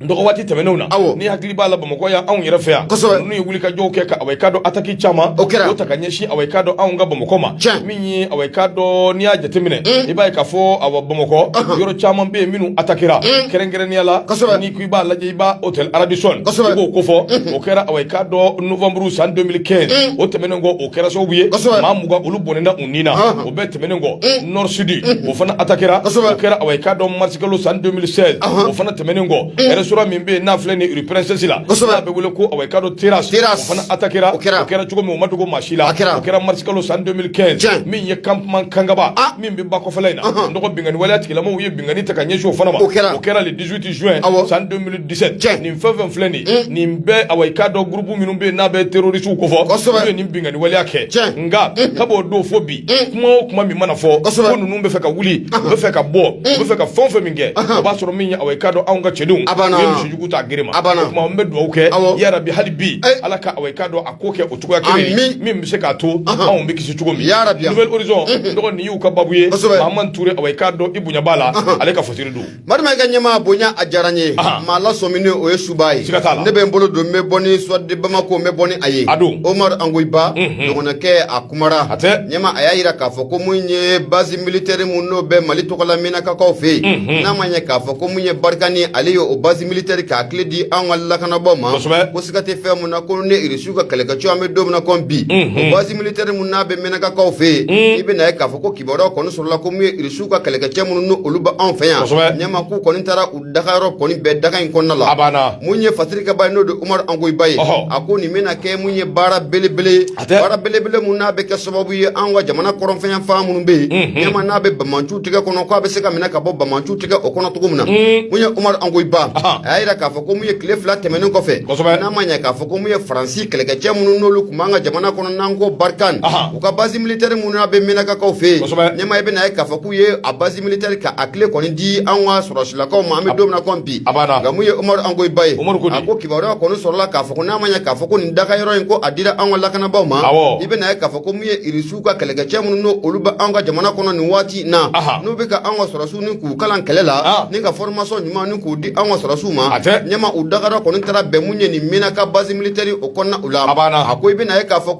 Dɔgɔ waati tɛmɛnenw na awɔ n'i hakili b'a la bamakɔ yan anw yɛrɛ fɛ yan n'u ye wuli ka jɔw kɛ ka awɔ i k'a dɔn ataki caman o ta ka ɲɛsin awɔ i k'a dɔn anw ka bamakɔ ma min ye awɔ i k'a dɔn n'i y'a jateminɛ i b'a ye k'a fɔ awɔ bamakɔ yɔrɔ caman bɛ yen minnu atakira kɛrɛnkɛrɛnnenya la n'i ko i b'a lajɛ i b'a hôtel Radisson i b'o ko fɔ o kɛra awɔ i k'a dɔn novembre san 2015 o tɛmɛnen kɔ o kɛra sababu ye maa mugan olu bɔnɛna ni na o bɛɛ tɛmɛnen kɔ Nord Sud o fana atakira o kɛra awɔ i k'a dɔn marisikalo san 2016 o fana tɛmɛnen kɔ restaurant min bɛ yen n'a filɛ ni rue Princesse la n'a bɛ wele ko awɔ i k'a dɔn Terrasse o fana atakira o kɛra cogo min o ma dogo maa si la o kɛra marisikalo san 2015 min ye campement Kangaba min bɛ ba kɔfɛla in na dɔgɔ binkanni waleya tigilamaaw ye binkanni ta ka ɲɛsin o fana ma o kɛra 18 juin awɔ san 2017 tiɲɛ nin fɛn fɛn filɛ nin ye nin bɛɛ awɔ i k'a dɔn groupe minnu bɛ yen n'a bɛ terrorisiw ko fɔ kosɛbɛ n'u ye nin binkanni waleya kɛ tiɲɛ nka kab'o don fo bi kuma o kuma min mana fɔ kosɛbɛ ko ninnu bɛ fɛ ka wuli u bɛ fɛ ka bɔ u bɛ fɛ ka fɛn o fɛn min kɛ o b'a sɔrɔ min ye awɔ i k'a dɔn anw ka cɛdenw a banna u ye misijugu ta gere ma a banna o tuma n bɛ dugawu kɛ awɔ yarabi hali bi ala ka awɔ i k'a dɔn a ko kɛ o cogoya kelen ye min bɛ se k'a to anw bɛ kisi cogo min yarabi Nouvel Horizon n dɔgɔ nin y'u ka baabu ye kosɛbɛ Mahamani Ture awɔ i k'a dɔn i bonya b'a la ale ka fasiri don Marima i ka ɲɛmaa bonya a diyara n ye, anhan, maa lasɔmin n'o ye suba ye, siga t'a la, ne bɛ n bolo don n bɛ bɔ ni Soir de Bamako n bɛ bɔ ni a ye, a don, Umaru Angoyiba, unhun, dɔgɔnɔkɛ a kumara, hatɛ, ɲɛmaa a y'a jira k'a fɔ ko mun ye base militaire min n'o bɛ Mali tɔgɔla Minakakaw fɛ yen, unhun, n'a ma ɲɛ k'a fɔ ko mun ye Barikani ale y'o base militaire k'a kile di an ka lakanabaaw ma, kosɛbɛ, ko siga tɛ fɛn min na ko ni Irisiw ka kɛlɛkɛcɛ an bɛ don min na ko bi, unhun, o base militaire min n'a bɛ Minakakaw fɛ yen, un, i bɛna ye k'a fɔ ko kibaruya kɔni sɔrɔla ko mun ye Irisiw u ka kɛlɛkɛcɛ minnu n' olu bɛ anw fɛ yan ɲɛma k'u kɔni taara u dagayɔrɔ kɔni bɛn daga in kɔnɔna la a mun ye fasirikɛba ye n'o de Umaru Angoyiba ye a ko nin bɛna kɛ mun ye baara belebele baara belebele min n'a bɛ kɛ sababu ye an ka jamana kɔrɔnfɛ fan minnu bɛ yen ɲɛma n'a bɛ banbaanciw tigɛ kɔnɔ k' a bɛ se ka minɛ ka bɔ banbaanciw tigɛ o kɔnɔ cogo min na mun ye Umaru Angoyiba a y'a jira k'a fɔ ko mun ye tile fila tɛmɛnen kɔfɛ n'a ma ɲɛ k'a fɔ ko mun ye faransi kɛlɛkɛcɛ minnu n'olu tun b'an ka jamana kɔnɔ n'an ko Barikani U ka basi militari min n'a bɛ Minakakaw fɛ yen ɲɛma i bɛna ye k'a fɔ k'u ye a basi militari k'a kile kɔni di an ka sɔrɔsilakaw ma an bɛ don min na ko bi nka mun ye Umaru Angoyiba ye a ko kibaruya kɔni sɔrɔla k'a fɔ n'a ma ɲɛ k'a fɔ ko nin dagayɔrɔ in ko a dira an ka lakanabagaw ma i bɛna ye k'a fɔ ko min ye irisiw ka kɛlɛkɛcɛ minnu n'olu bɛ an ka jamana kɔnɔ nin waati in na n'u bɛ ka an ka sɔrɔsiw ni k'u kalan kɛlɛ la ni ka formation ɲuman ni k'u di an ka sɔrɔsiw ma ɲɛma u dagayɔrɔ kɔni taara bɛn mun ye nin Minaka basi militari o kɔnɔna u la a ko i bɛna ye k'a fɔ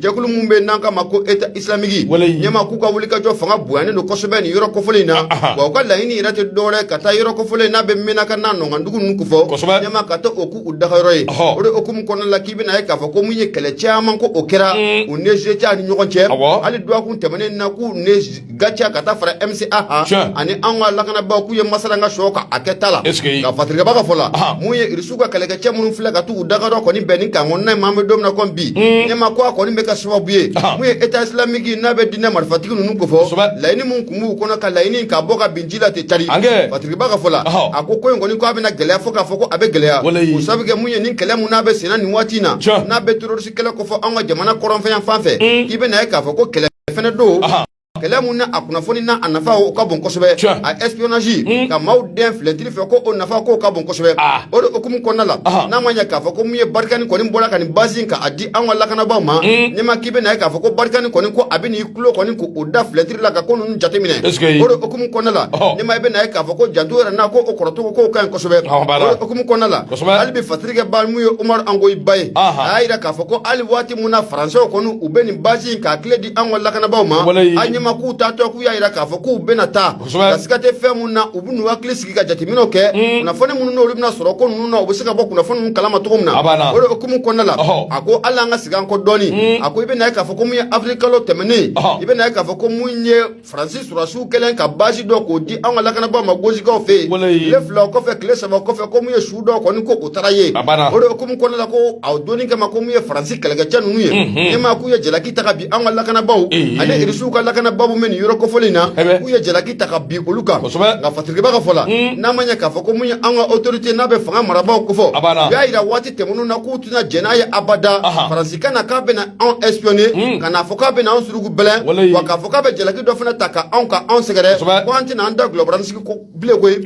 jɛkulu min bɛ n'an k'a ma ko eta islamiki ɲɛma k'u ka wulikajɔ fanga bonyanen don kosɛbɛ nin yɔrɔ kofɔlen in na wa u ka laɲini yɛrɛ tɛ dɔwɛrɛ ka taa yɔrɔ kofɔlen n'a bɛ mɛnaka n'a ɲɔgɔndugu ninnu kofɔ ɲɛma ka taa o k'u dagayɔrɔ ye o de hukumu kɔnɔna la k'i bɛna ye k'a fɔ ko mun ye kɛlɛ caman ko o kɛra u ni gaciya ni ɲɔgɔn cɛ hali duwakun tɛmɛnen na k'u ni gaciya ka taa fara MCA kan ani an ka lakanabaaw k'u ye masala an ka sɔɔ kan a kɛta la nka fatirikɛba ka fɔ la mun ye irisiw ka kɛlɛkɛcɛ minnu filɛ ka t'u dagayɔrɔ kɔni bɛn nin camp kɔnɔna in ma an bɛ don min na komi bi ɲɛma ko a kɔni bɛ kɛ sababu ye mun ye état islamique n'a bɛ diinɛ marifatigi ninnu kofɔ laɲini min tun b'u kɔnɔ ka laɲini ka bɔ ka bin ji la ten cari fatirikɛba ka fɔ la a ko ko in kɔni ko a bɛna gɛlɛya fo k'a fɔ ko a bɛ gɛlɛya o sababu kɛ mun ye nin kɛlɛ mun n'a bɛ senna nin waati in na n'a bɛ terroriste kɛlɛ kofɔ an ka jamana kɔrɔnfɛ yanfan fɛ k'i bɛ na ye k'a fɔ ko kɛlɛ fana don kɛlɛ min na a kunnafoni na a nafa o ka bon kosɛbɛ a espionage ka maaw dɛn filɛtiri fɛ ko o nafa k'o ka bon kosɛbɛ o de hukumu kɔnɔna la n'a ma ɲɛ k'a fɔ ko min ye barikani kɔni bɔra ka nin base ka a di an ka lakanabaaw ma ɲɛma k'i bɛ na ye k'a fɔ ko barikani kɔni ko a bɛna i tulo kɔni k'o da filɛtiri la ka ko ninnu jateminɛ o de hukumu kɔnɔna la ɲɛma i bɛ na ye k'a fɔ ko janto yɛrɛ na ko o kɔrɔcogo k'o ka ɲi kosɛbɛ o de hukumu kɔnɔna la hali bi Fatirikɛba mun ye Umaru Angoyi Ba ye, anhan, a y'a jira k'a fɔ ko hali waati min na Françaisw kɔni u bɛ nin base in k'a kile di anw ka lakanabaaw ma, walahi, a ɲɛma k'u taatɔ k'u y'a jira k'a fɔ k'u bɛna taa, kosɛbɛ, nka siga tɛ fɛn minnu na u bɛ n'u hakili sigi ka jateminɛw kɛ, un, kunnafoni minnu n'olu bɛna sɔrɔ ko ninnu na u bɛ se ka bɔ kunnafoni ninnu kalama cogo min na, a b'an na, o de hukumu kɔnɔna la, ɔhɔ, a ko hali an ka segin an kɔ dɔɔnin, un, a ko i bɛna ye k'a fɔ ko min ye avril kalo tɛmɛnen, ɔhɔ, i bɛna ye k'a fɔ ko min ye faransi surasiw kɛlen ka basi dɔ k'o di an ka lakanabaaw ma gosikaw fɛ yen tile fila o kɔfɛ tile saba o kɔfɛ ko mun ye su dɔ kɔni ko o taara ye o de hukumu kɔnɔna la ko a donni kama ko mun ye faransi kɛlɛkɛcɛ ninnu ye ɲɛma k'u ye jalaki ta ka bin an ka lakanabaaw ani irisiw ka lakanabaaw bɛ nin yɔrɔ kofɔlen na k'u ye jalaki ta ka bin olu kan nka fatirikɛba ka fɔ la n'a ma ɲɛ k'a fɔ ko mun ye an ka autorité n'a bɛ fanga marabaaw kofɔ u y'a jira waati tɛmɛnen na k'u tɛna jɛn n'a ye abada faransi ka na k'a bɛna anw espionner ka n'a fɔ k'a bɛna anw surugu bɛlɛn wa k'a fɔ k'a bɛ jalaki dɔ fana ta ka anw ka anw sɛgɛrɛ ko an tɛna an da gulɔbaransigi bilen koyi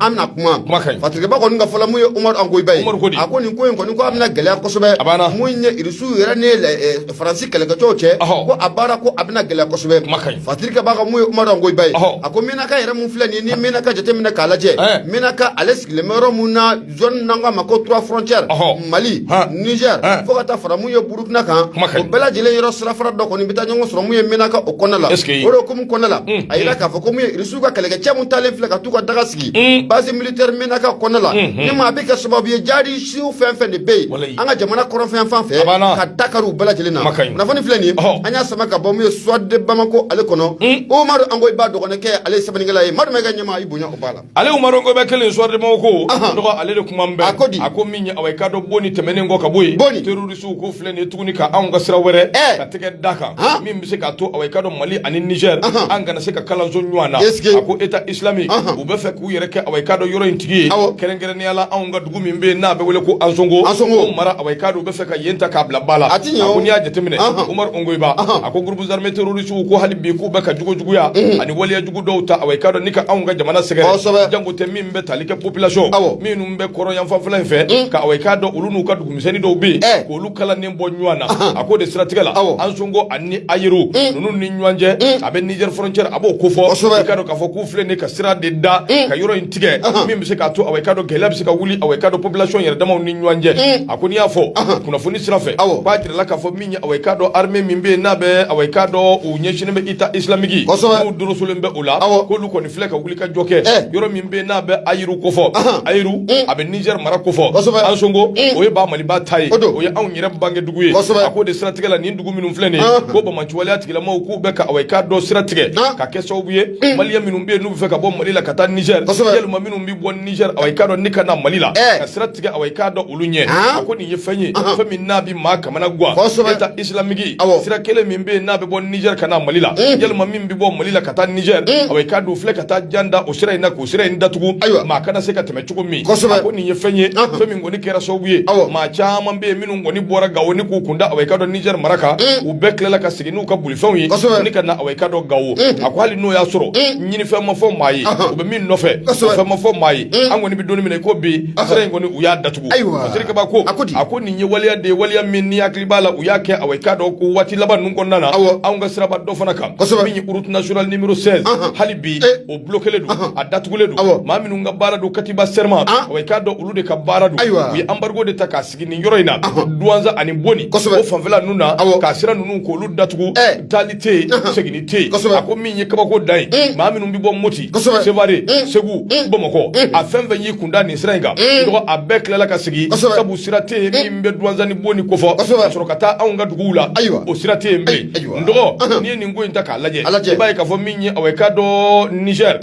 an na kuma fatirikɛba kɔni ka fɔ la mun ye Umaru Angoyi Ba ye a ko nin ko in kɔni ko a bɛna gɛlɛya kosɛbɛ mun ye irisiw yɛrɛ ni faransi kɛlɛkɛcɛw cɛ ko a baara ko a bɛna gɛlɛya kosɛbɛ fatirikɛba ka mun ye Umaru Angoyi Ba ye a ko mɛnaka yɛrɛ min filɛ nin ni mɛnaka jateminɛ k'a lajɛ mɛnaka ale sigilen bɛ yɔrɔ min na zone n'an k'a ma ko trois frontières Ɔhɔ. mali Han. niger Han. fo ka taa fara mun ye burukina kan Kuma ka o ɲi. bɛɛ lajɛlen yɔrɔ sirafara dɔ kɔni bɛ taa ɲɔgɔn sɔrɔ mun ye menaka o kɔnɔna la Est-ce que- o de hukumu kɔnɔna la Mm, a yira k'a fɔ ko mun ye irisiw ka kɛlɛkɛcɛ mun taalen filɛ ka t'u ka daga sigi Mm. base militaire menaka kɔnɔna la Mm, mm. ne ma a bɛ kɛ sababu ye jihadisiw fɛn fɛn de bɛ yen Walayi. an ka jamana kɔrɔnfɛ fan fɛ A banna. ka dankari u bɛɛ lajɛlen na Kuma ka ɲi. kunnafoni filɛ nin ye Ɔhɔ. an y'a sama ka bɔ mun ye soir de bamako ale kɔnɔ Mm. umaru ongoyiba dɔgɔninkɛ ale ye sɛbɛnnikɛla ye madu mayiga ɲɛma i bonya o b'a la Ale umaru ongoyiba kelen soir de bamako dɔgɔ ale de kuma bɛ a ko di a ko min ye a ka dɔn boni tɛmɛnen kɔ ka bɔ yen terroristes ko filɛ nin ye tuguni ka anw ka sira wɛrɛ ka tɛgɛ da kan min bɛ se k'a to a ka dɔn mali ani niger an kana se ka kalanso ɲɔgɔn na a ko État islamique u bɛ fɛ k'u yɛrɛ kɛ ka dɔn yɔrɔ in tigi ye kɛrɛnkɛrɛnnenya la anw ka dugu min bɛ yen n'a bɛ wele ko ansongo o mara a ka u bɛ fɛ ka yen ta k'a bila ba la a ko n'i y'a jateminɛ umaru ongoyiba a ko groupes armés terroristes ko hali bi k'u bɛ ka jugu juguya ani waleya dɔw ta ayi ka dɔn ni ka anw ka jamana sɛgɛn jango tɛ min bɛ tali kɛ population minnu bɛ kɔrɔn yanfanfɛla in fɛ ka a ka dɔn olu n'u ka dugumisɛnnin dɔw bɛ yen k'olu kala ni bɔ ɲɔgɔn na a ko de siratigɛ la ansongo ani ayiru ninnu ni ɲɔgɔn cɛ a bɛ niger frontière a b'o kofɔ i k'a dɔn k'a fɔ k'u filɛ nin ka sira de da ka yɔrɔ in tigɛ min bɛ se k'a to a ka dɔn gɛlɛya bɛ se ka wuli a ka dɔn population yɛrɛ damaw ni ɲɔgɔn cɛ a ko n'i y'a fɔ kunnafoni sira fɛ k'a jirala k'a fɔ a ka dɔn armée min bɛ yen n'a bɛ a ka dɔn u ɲɛsinnen bɛ État islamique n'u dorosolen bɛ o la k'olu kɔni filɛ ka wuli ka jɔ kɛ yɔrɔ min bɛ yen n'a bɛ ayiru kofɔ ayiru a bɛ niger mara kofɔ ansongo o ye ba maliba ta ye o ye anw yɛrɛ bangedugu ye a ko de siratigɛ la nin dugu minnu filɛ nin ko banbaanci waleya tigilamaw k'u bɛ ka a ka dɔn sira tigɛ ka kɛ sababu ye maliyɛn minnu bɛ yen n'u bɛ fɛ ka bɔ mali la ka taa niger yalima minnu bɛ bɔ niger a ka dɔn ni ka na mali la ka sira tigɛ a ka dɔn olu ɲɛ a ko nin ye fɛn ye fɛn maa kamanagan État islamique sira kelen min bɛ yen n'a bɛ bɔ niger ka na mali la yalima min bɛ bɔ mali la ka taa niger a ka dɔn filɛ ka taa jan da o sira in na k'o sira in datugu ayiwa maa kana se ka tɛmɛ cogo min a ko nin ye fɛn ye fɛn min kɔni kɛra sababu ye maa caman bɛ yen minnu kɔni bɔra gawo ni k'u kun da a ka dɔn niger mara kan u bɛɛ tilala ka segin n'u ka bolifɛnw ye ni ka na ka dɔn gawo a ko hali n'o y'a sɔrɔ ɲinifɛn ma fɔ maa ye u bɛ min nɔfɛ fɛn ma fɔ maa ye an kɔni bɛ don min na ko bi sira in kɔni u y'a datugu Ayiwa kabako a ko nin ye waleya de ye waleya min n'i hakili b'a la u y'a kɛ a i k'a dɔn ko waati laban ninnu kɔnɔna na anw ka siraba dɔ fana kan min ye route nationale numéro seize hali bi eh. o bloquélen don a datugulen don maa minnu ka baara don katiba serma a i k'a dɔn olu de ka baara don ayiwa u ye embargo de ta k'a sigi nin yɔrɔ in na duwanza ani boni o fanfɛla ninnu na k'a sira ninnu k'olu datugu eh. tɛ seginni tɛ a ko min ye kabako dan ye maa minnu bɛ bɔ moti seware segu bamakɔ a fɛn fɛn y'i kun da nin sira in kan dɔgɔ a bɛɛ tilala ka segin sabu sira tɛ yen min bɛ duwanza ni boni kofɔ ka sɔrɔ ka taa anw ka duguw la ayiwa o sira tɛ yen bilen n dɔgɔ n'i ye nin ko in ta k'a lajɛ i b'a ye k'a fɔ min ye aw ye ka dɔn niger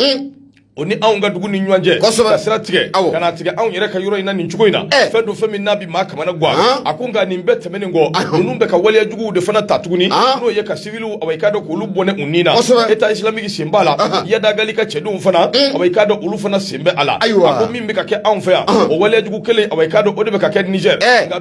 o ni anw ka dugu ni ɲɔgɔn cɛ kosɛbɛ ka sira tigɛ ka na tigɛ anw yɛrɛ ka yɔrɔ in na nin cogo in na fɛn don fɛn min n'a bi maa kamana guwa a ko nka nin bɛɛ tɛmɛnen kɔ ninnu bɛ ka waleya juguw de fana ta tuguni n'o ye ka siviliw awa i k'a dɔn k'olu bɔnɛ u ni na État islamique sen b'a la Iyad Ag Ghali ka cɛdenw fana awa i k'a dɔn olu fana sen bɛ a la a ko min bɛ ka kɛ anw fɛ yan o waleya jugu kelen awa i k'a dɔn o de bɛ ka kɛ Niger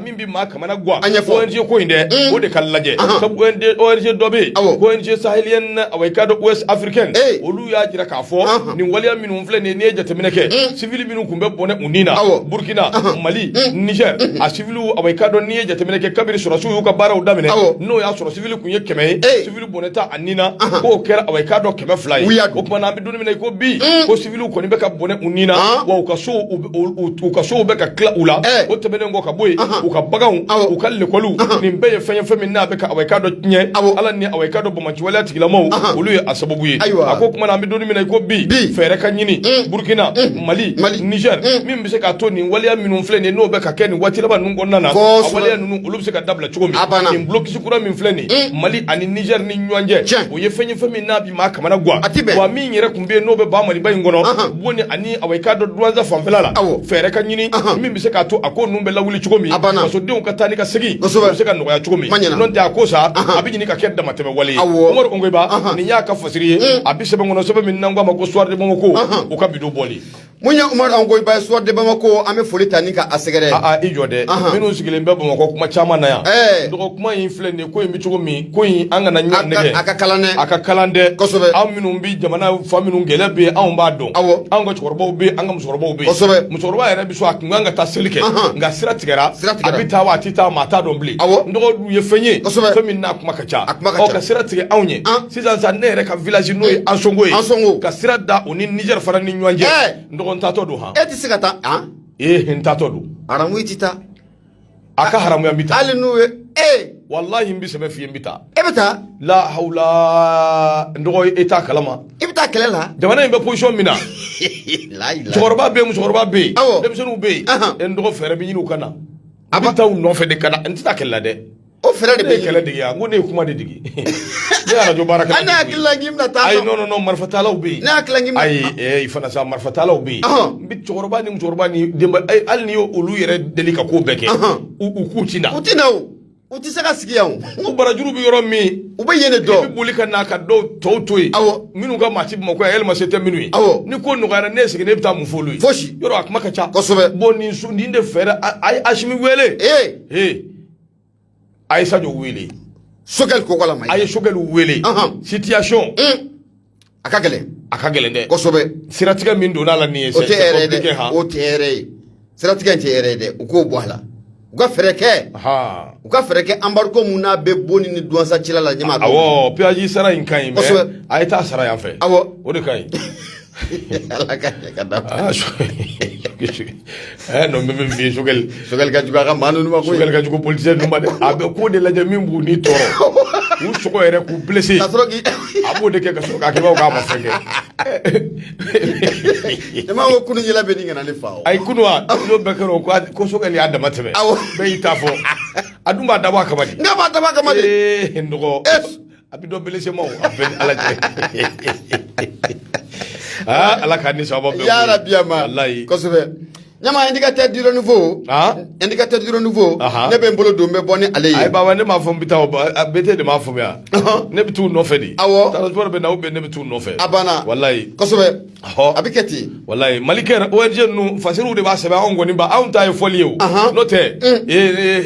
min bɛ maa kamana guwa An ɲɛfɔ. ONG ko in dɛ Mm. o de ka lajɛ Ahan. sabu ONG ONG dɔ bɛ yen Awɔ. ko ONG sahélienne awa i k'a dɔn ouest africaine Ee. olu y'a jira k'a fɔ Ahan. nin waleya minnu filɛ nin ye n'i ye jateminɛ kɛ Mm. sivili minnu tun bɛ bɔnɛ u ni na Awɔ. burkina Ahan. mali Mm. niger a siviliw awa i k'a dɔn n'i ye jateminɛ kɛ kabiri sɔrɔsiw y'u ka baaraw daminɛ Awɔ. n'o y'a sɔrɔ sivili tun ye kɛmɛ ye Ee. civil bɔnɛta a ni na k'o kɛra awa i k'a dɔn kɛmɛ fila ye o tuma na an bɛ don in min na i ko bi mm. ko civil kɔni bɛ ka bɔnɛ u ni na ah. wa u ka sow u ka sow bɛ ka tila u la eh. o tɛmɛnen kɔ ka bɔ yen u ka baganw u ka lekɔliw nin bɛɛ ye fɛn ye fɛn min n'a bɛ ka awa i k'a dɔn tiɲɛ a la ni awa i k'a dɔn banbaanci waleya tigilamaw olu ye a sababu ye a ko tuma na an bɛ don in min na i ko bi fɛɛrɛ ka ɲini mm. burukina mm. mali niger min bɛ se k'a to nin waleya minnu filɛ nin ye n'o bɛ ka kɛ nin waati laban ninnu kɔnɔna na a waleya ninnu olu bɛ se ka dabila cogo min nin kura min filɛ nin ye mali ani Niger ni ɲɔgɔn cɛ o ye fɛn ye fɛn min n'a bi maa kamana guwa a ti bɛn wa min yɛrɛ tun bɛ yen n'o bɛ ba Maliba in kɔnɔ Boni ani awa i k'a dɔn duwanza fanfɛla la awɔ fɛɛrɛ ka ɲini min bɛ se k'a to a ko ninnu bɛ lawuli cogo min a banna fasodenw ka taa ni ka segin kosɛbɛ bɛ se ka nɔgɔya cogo min n'o tɛ a ko sa a bɛ ɲini ka kɛ damatɛmɛ wale ye awɔ umaru Ongoyiba nin y'a ka fasiri ye a bi sɛbɛn kɔnɔ sɛbɛn min n'an k'a ma ko Soir de Bamako o ka bi don bɔli Mun ye Umaru Ongoyiba ye Soir de Bamako an bɛ foli ta ni ka a sɛgɛrɛ. Aa i jɔ dɛ minnu sigilen bɛ Bamakɔ kuma caman na yan. Ɛɛ dɔgɔ kuma in filɛ nin ye ko in bɛ cogo min ko in an kana ɲɔgɔn nɛgɛn. A ka kalan dɛ. A ka kalan dɛ. Kosɛbɛ. Anw minnu bɛ jamana fan minnu gɛlɛya bɛ yen anw b'a dɔn. Awɔ. Anw ka cɛkɔrɔbaw bɛ yen an ka musokɔrɔbaw bɛ yen. Kosɛbɛ. Musokɔrɔba yɛrɛ bɛ so a tun ka kan ka taa seli kɛ. Nka sira tigɛra. Sira tigɛra. A bɛ taa wa a tɛ taa maa t'a dɔn bilen. Awɔ. N dɔgɔ dun ye fɛn ye. Kosɛbɛ. Fɛn min n'a kuma ka ka sira tigɛ anw ye sisan sisan ne yɛrɛ ka village n'o ye Ansongo ye Ansongo ka sira da o ni Niger fana ni ɲɔgɔn cɛ n dɔgɔ n taatɔ don han e tɛ se ka taa han ee n taatɔ don haramu i tɛ taa a ka haramuya n bɛ taa hali n'u ye ee walahi n bɛ sɛbɛ f'i ye n bɛ taa e bɛ taa la hawla n dɔgɔ e t'a kalama i bɛ taa kɛlɛ la jamana in bɛ position min na cɛkɔrɔba bɛ yen musokɔrɔba bɛ yen denmisɛnninw bɛ yen n dɔgɔ fɛɛrɛ bɛ ɲini u ka na a bɛ taa u nɔfɛ de ka na n tɛ taa kɛlɛ la dɛ O fɛɛrɛ de bɛ kɛlɛ dege a ko ne ye kuma de dege ne arajo baara kɛ ne hakili la k'i bɛna taa ayi non marifatalaw bɛ yen ne hakili la k'i ayi fana sa marifatalaw bɛ yen n bɛ cɛkɔrɔba ni musokɔrɔba ni denba hali ni olu yɛrɛ deli ka ko bɛɛ kɛ u k'u ti na u ti na u tɛ se ka sigi yan k'u barajuru bɛ yɔrɔ min u bɛ yen dɔw bɛ boli ka na ka dɔw tɔw to yen aw minnu ka maa ti Bamakɔ yɛlɛma se tɛ minnu ye aw ni ko nɔgɔyara ne sigilen ne bɛ taa mun f'olu ye fosi yɔrɔ a kuma ka ca kosɛbɛ bon nin sun nin de fɛɛrɛ a ye asimi wele ee ee a ye Sadio wele Choguel Kokalla ma a ye Choguel wele situation hmm. a ka gɛlɛn a ka gɛlɛn dɛ kosɛbɛ siratigɛ min donna la nin ye o tɛ hɛrɛ dɛ o tɛ hɛrɛ ye siratigɛ tɛ hɛrɛ dɛ u k'o bɔ a la u ka fɛɛrɛ kɛ u ka fɛɛrɛ kɛ embargo mun n'a bɛ Boni ni Duwansa cɛla la ɲɛma awɔ peyaji sara in ka ɲi mais a ye taa sara yan fɛ awɔ o de ka ɲi ala ka ka da non mais min f'i Choguel Choguel ka jugu a ka maa ninnu ma Choguel ka jugu politisiyɛn ninnu ma dɛ a bɛ ko de lajɛ min b'u ni tɔɔrɔ k'u sɔgɔ yɛrɛ k'u blessé ka sɔrɔ k'i a b'o de kɛ ka sɔrɔ k'a kɛ k'a ma fɛn kɛ ne m'a ko kunu yɛlɛ bɛ ɲini ka na ne fa o ayi kunu wa n'o bɛɛ kɛra o ko Choguel y'a dama tɛmɛ awɔ bɛɛ y'i ta fɔ a dun b'a dabɔ a kama de n k'a b'a dabɔ a kama de ee n dɔgɔ a bɛ dɔ blessé ma o a bɛɛ ni Ala cɛ aa Ala k'an ni sababa bɛn k'u ye yarabi ya ma walayi kosɛbɛ ɲama indicateur du renouveau Aa. indicateur du renouveau Aha. ne bɛ n bolo don n bɛ bɔ ni ale ye ayi baba ne m'a fɔ n bɛ taa o ba- a BT de m'a faamuya Ɔhɔn. ne bɛ t'u nɔfɛ de Awɔ. transport bɛ na ou bien ne bɛ t'u nɔfɛ a banna walayi kosɛbɛ a bɛ kɛ ten walayi malikɛ ONG ninnu fasiriw de b'a sɛbɛn anw kɔni ba anw ta ye fɔli ye o n'o tɛ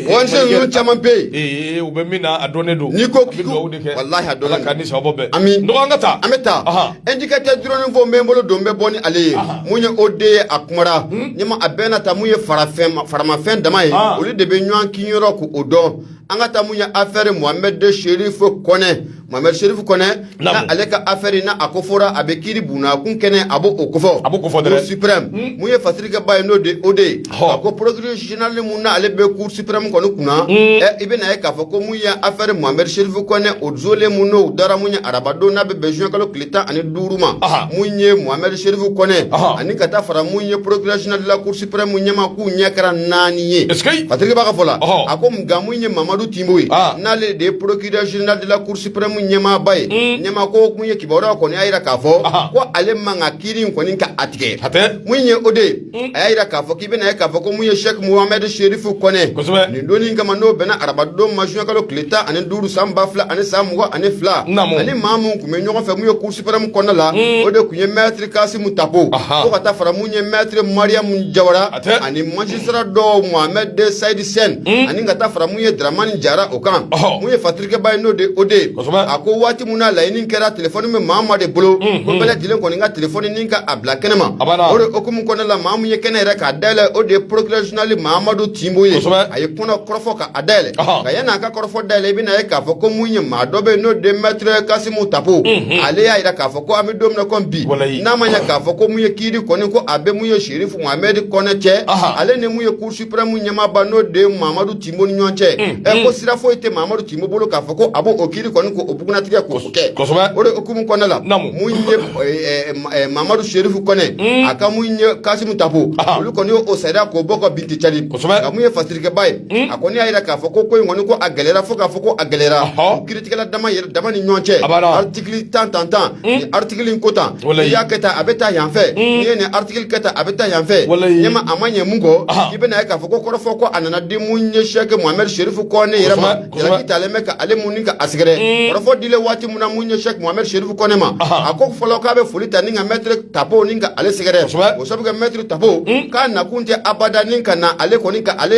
ONG ninnu caman bɛ yen u bɛ min na a dɔnnen don n'i ko k'i dugawu de kɛ walayi a dɔnnen don Ala k'an ni sababa bɛn ami n dɔgɔ an ka taa an bɛ taa indicateur du renouveau n bɛ n bolo don n bɛ bɔ ni ale ye mun ye OD ye a kumara ɲɛma a bɛ na ta mun ye farafɛn faramafɛn dama ye olu de bɛ ɲɔgɔn kin yɔrɔ k'o dɔn an ka taa mun ye affaire Mohamed Cherif Kone Mohamed Cherif Kone na ale ka affaire na a ko fɔra a bɛ kiri buna kun kɛnɛ a b'o o kofɔ a b'o kofɔ cour suprême hmm. mun ye fasirikɛba ye n'o de o de ye a ko procureur général mun na ale bɛ cour suprême kɔni kunna hmm. ɛ i bɛ na ye k'a fɔ ko mun ye affaire Mohamed Cherif Kone o jolen mun n'o dara mun ye arabadon n'a bɛ bɛn juin kalo tile tan ani duuru ma mun ye Mohamed Cherif Kɔnɛ ani ka taa fara mun ye procureur général de la cour suprême ɲɛma k'u ɲɛ kɛra naani ye fasirikɛba ka fɔ la a ko nka mun ye mamadu tinbo ye n'ale de ye procureur général de la cour suprême ɲɛmaaba ye mm. ɲɛma ko mun ye kibaruya kɔni y'a jira k'a fɔ ko ale man ka kiiri in kɔni ka a tigɛ mun ye o de ye Mm. a y'a jira k'a fɔ k'i bɛna ye k'a fɔ ko mun ye Sheikh Mohamed Sherifu Kɔnɛ kosɛbɛ nin donni kama n'o bɛnna arabadon ma juin kalo tile tan ani duuru san ba fila ani san mugan ani fila ani maa mun tun bɛ ɲɔgɔn fɛ mun ye Cour suprême kɔnɔna la mm. o de tun ye Maître Kasimu Tapo fo ka taa fara mun ye Maître Mariamu Jawara ani magistrat dɔw Mohamed Saïd Sen mm. ani ka taa fara mun ye Dramani Jara o kan mun ye Kɛba ye n'o de o de a ko waati min na laɲini kɛra téléphone bɛ maa ma de bolo bɛɛ lajɛlen kɔni ka téléphone nin ka a bila kɛnɛ ma o de hukumu kɔnɔna la maa min ye kɛnɛ yɛrɛ k'a dayɛlɛn o de ye procureur général mamadu tinbo ye a ye kɔnɔ kɔrɔfɔ k'a dayɛlɛn nka yanni a ka kɔrɔfɔ dayɛlɛn i bɛna ye k'a fɔ ko mun ye maa dɔ bɛ n'o de Maître Kasimu Tapo ale y'a jira k'a fɔ ko an bɛ don min na comme bi n'a ma ye k'a fɔ ko mun ye kiri kɔni ko a bɛ mun ye Sherifu Mohamed Kɔnɛ cɛ ale ni mun ye Cour suprême ɲɛmaaba n'o de mamadu Timbo ni ɲɔgɔn cɛ, unhun, ɛ ko sira foyi tɛ Mamadu Timbo bolo k'a fɔ ko a b'o kiri kɔni k'o bugunnatigɛ k'o kɛ, kosɛbɛ, o de hukumu kɔnɔna la, naamu, mun ye ɛ Mamadu Serifu Kɔnɛ, un, a ka mun ye Kasimu Tapo, anhan, olu kɔni y'o sariya k'o bɔ ka bin ten cari, kosɛbɛ, nka mun ye fasirikɛbaa ye, un, a kɔni y'a yira k'a fɔ ko ko in kɔni ko a gɛlɛyara fo k'a fɔ ko a gɛlɛyara, ɔhɔ, kiritigɛla dama yɛrɛ dama ni ɲɔgɔn cɛ, abada article tan tan tan ni article in ko tan n'i y'a kɛ tan a bɛ taa yanfɛ n'i ye nin article kɛ tan a bɛ taa yanfɛ ɲɛma a ma ɲɛ mun kɔ i bɛna ye k'a fɔ ko kɔrɔfɔ ko a nana di mun ye sɛki mohamed serifu kɔnɛ yɛrɛ ma jalaki talen bɛ ka ale mun ka a sɛgɛrɛ kɔrɔfɔ dilen waati min na mun ye sɛki mohamed serifu kɔnɛ ma a ko fɔlɔ k'a bɛ foli ta ni ka mɛtiri tapo ni ka ale sɛgɛrɛ o sabu mɛtiri tapo k'a nakun tɛ abada ni ka na ale kɔni ka ale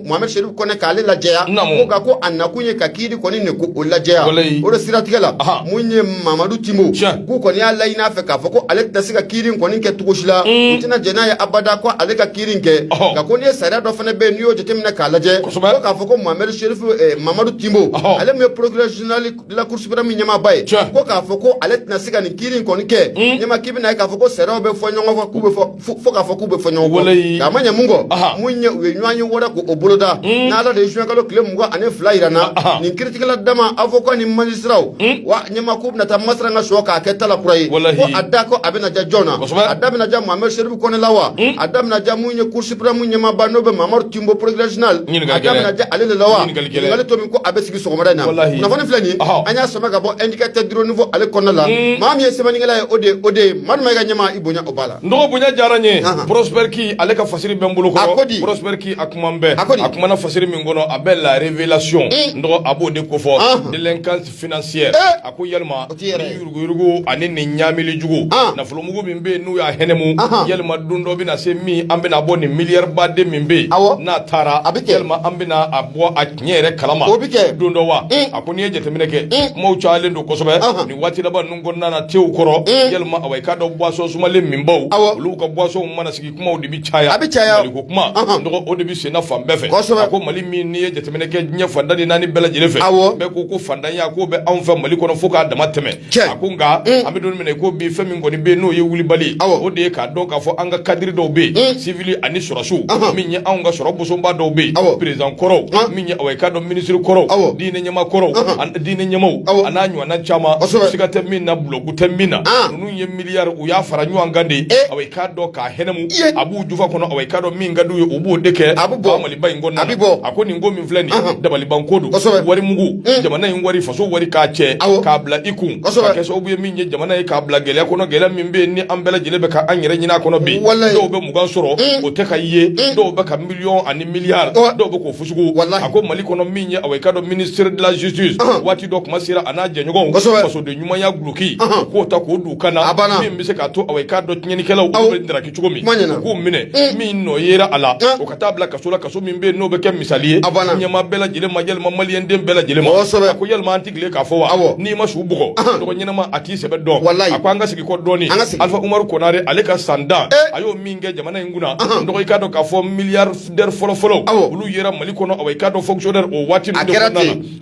mohamed serifu kɔnɛ k'ale lajɛya ko ko a kun ye ka kiri kɔni de ko o lajɛya o de siratigɛ la mun ye mamadu timbo k'u kɔni y'a laɲini a fɛ k'a fɔ ko ale tɛna se ka kiri kɔni kɛ cogo si la u tɛna jɛn n'a ye abada ko ale ka kiri kɛ nka ko n'i ye sariya dɔ fana bɛ yen n'i y'o jateminɛ k'a lajɛ ko k'a fɔ ko mohamed serifu eh, mamadu timbo ale min ye procureur général la Cour suprême ɲɛmaaba ye ko k'a fɔ ko ale tɛna se ka nin kiri kɔni kɛ mm. ɲɛma k'i bɛna ye k'a fɔ ko sariyaw bɛ fɔ ɲɔgɔn kɔ k'u bɛ fɔ fo k'a fɔ k'u bɛ fɔ ɲɔgɔn kɔ a ma ɲɛ mun kɔ mun ye u ye ɲɔgɔn ye wɛrɛ k'o boloda n'ala de ye zuwɛnkalo tile mugan ani fila yira na nin kiritigɛla dama avocat ni magistrat wa ɲɛma k'u bɛna taa masala ka sɔrɔ k'a kɛ tala kura ye a da ko a bɛna ja jɔn na a da bɛna ja mohamed serifu kɔnɛ la wa a da bɛna ja mun ye Cour suprême ɲɛmaaba n'o bɛ mamadu timbo procureur général a da bɛna ja ale de la wa ɲininkali to min ko a bɛ sigi sɔgɔmada in na kunnafoni filɛ nin an y'a sama ka bɔ indicateur du renouveau ale kɔnɔna la maa min ye sɛbɛnnikɛla ye o de o de ye maa ma i ka ɲɛma i bonya O b'a la. N dɔgɔ bonya diyara n ye. Anhan. Prosper Ki, ale ka fasiri bɛ n bolo kɔrɔ. A ko di? Prosper Ki, a kuma n bɛɛ. A ko di? A kumana fasiri min kɔnɔ, a bɛ la révélation Ee! N dɔgɔ, a b'o de ko fɔ. Anhan. Délinquance financière Ee! A ko yalima, O t'i yɛrɛ ye. ni yuruguyurugu ani nin ɲaamili jugu, An! nafolomugu min bɛ yen n'u y'a hɛnɛmu, Anhan. yalima don dɔ bɛna se min, an bɛna bɔ nin milliard baden min bɛ yen, Awɔ. n'a taara, A bɛ kɛ. yalima an bɛna a bɔ a tiɲɛ yɛrɛ kalama, O bɛ kɛ. don dɔ wa? Ee! A ko n'i ye jateminɛ kɛ, Ee! kumaw cayalen don kosɛbɛ, Anhan. nin waati laban ninnu kɔnɔna na tew kɔrɔ mm. yalima awa i k'a dɔn boisson sumalen minbaw olu ka boisson mana sigi kumaw de bi caya a bi caya maliko kuma nɔgɔ o de bi senna fan bɛɛ fɛ kosɛbɛ a ko mali min n'i ye jateminɛ kɛ diɲɛ fan tan ni naani bɛɛ lajɛlen fɛ awɔ bɛɛ ko ko faantanya k'o bɛ anw fɛ mali kɔnɔ fo k'a dama tɛmɛ a ko nka mm. an bɛ don min na ko bi fɛn min kɔni bɛ yen n'o ye wulibali o de ye k'a dɔn k'a fɔ an ka kadiri dɔw bɛ yen mm. sivili ani sɔrɔsiw min ye anw ka sɔrɔ bosonba dɔw bɛ yen perezidan kɔrɔw min ye awa i k'a dɔn minisiri kɔrɔw diinɛ ɲɛmaa kɔrɔw diinɛ ɲɛmaaw a n'a ɲɔgɔnna caman kosɛbɛ siga tɛ min na bulɔgu tɛ min na an ninnu ye milliards u y'a fara ɲɔgɔn kan de ee awa i k'a dɔn k'a hɛnɛmu i ye a b'u jufa kɔnɔ awa i k'a dɔn min ka d'u ye u b'o de kɛ a bɛ bɔ nin Maliba in kɔnɔna na a bɛ bɔ a ko nin ko min filɛ nin ye anhan dabaliban ko don kosɛbɛ wari mugu un jamana in wari faso wari k'a cɛ awɔ k'a bila i kun kosɛbɛ ka kɛ sababu ye min ye jamana ye k'a bila gɛlɛya kɔnɔ gɛlɛya min bɛ yen ni an bɛɛ lajɛlen bɛ ka an yɛrɛ ɲin'a kɔnɔ bi walahi dɔw bɛ mugan sɔrɔ un o tɛ ka ye un dɔw bɛ ka millions ani milliards ɔ dɔw bɛ k'o fɔ Jugu a ko mali kɔnɔ min ye awa i k'a dɔn ministre de la justice waati dɔ kuma sera a n'a jɛɲɔgɔn fasoden ɲumanya guloki k'o ta k'o d'u kan na a banna min bɛ se k'a to awa i k'a dɔn tiɲɛnlikɛlaw olu bɛ traquer cogo min k'u minɛ min nɔ yera a la o ka taa bila kaso la kaso min bɛ n'o bɛ kɛ misali ye a banna ɲɛma bɛɛ lajɛlen ma yalima maliyɛn den bɛɛ lajɛlen ma a ko yalima an tɛ tile k'a fɔ wa n'i ma su bugɔ dɔgɔ ɲɛnama a t'i sɛbɛ dɔn a ko an ka segin kɔ dɔɔnin alifa umaru konare ale ka san tan a y'o min kɛ jamana in kunna dɔgɔ i k'a dɔn k'a fɔ miya Dɛri fɔlɔfɔlɔ olu yera mali kɔnɔ awa i k'a dɔn fonctionnaire o waati a kɛra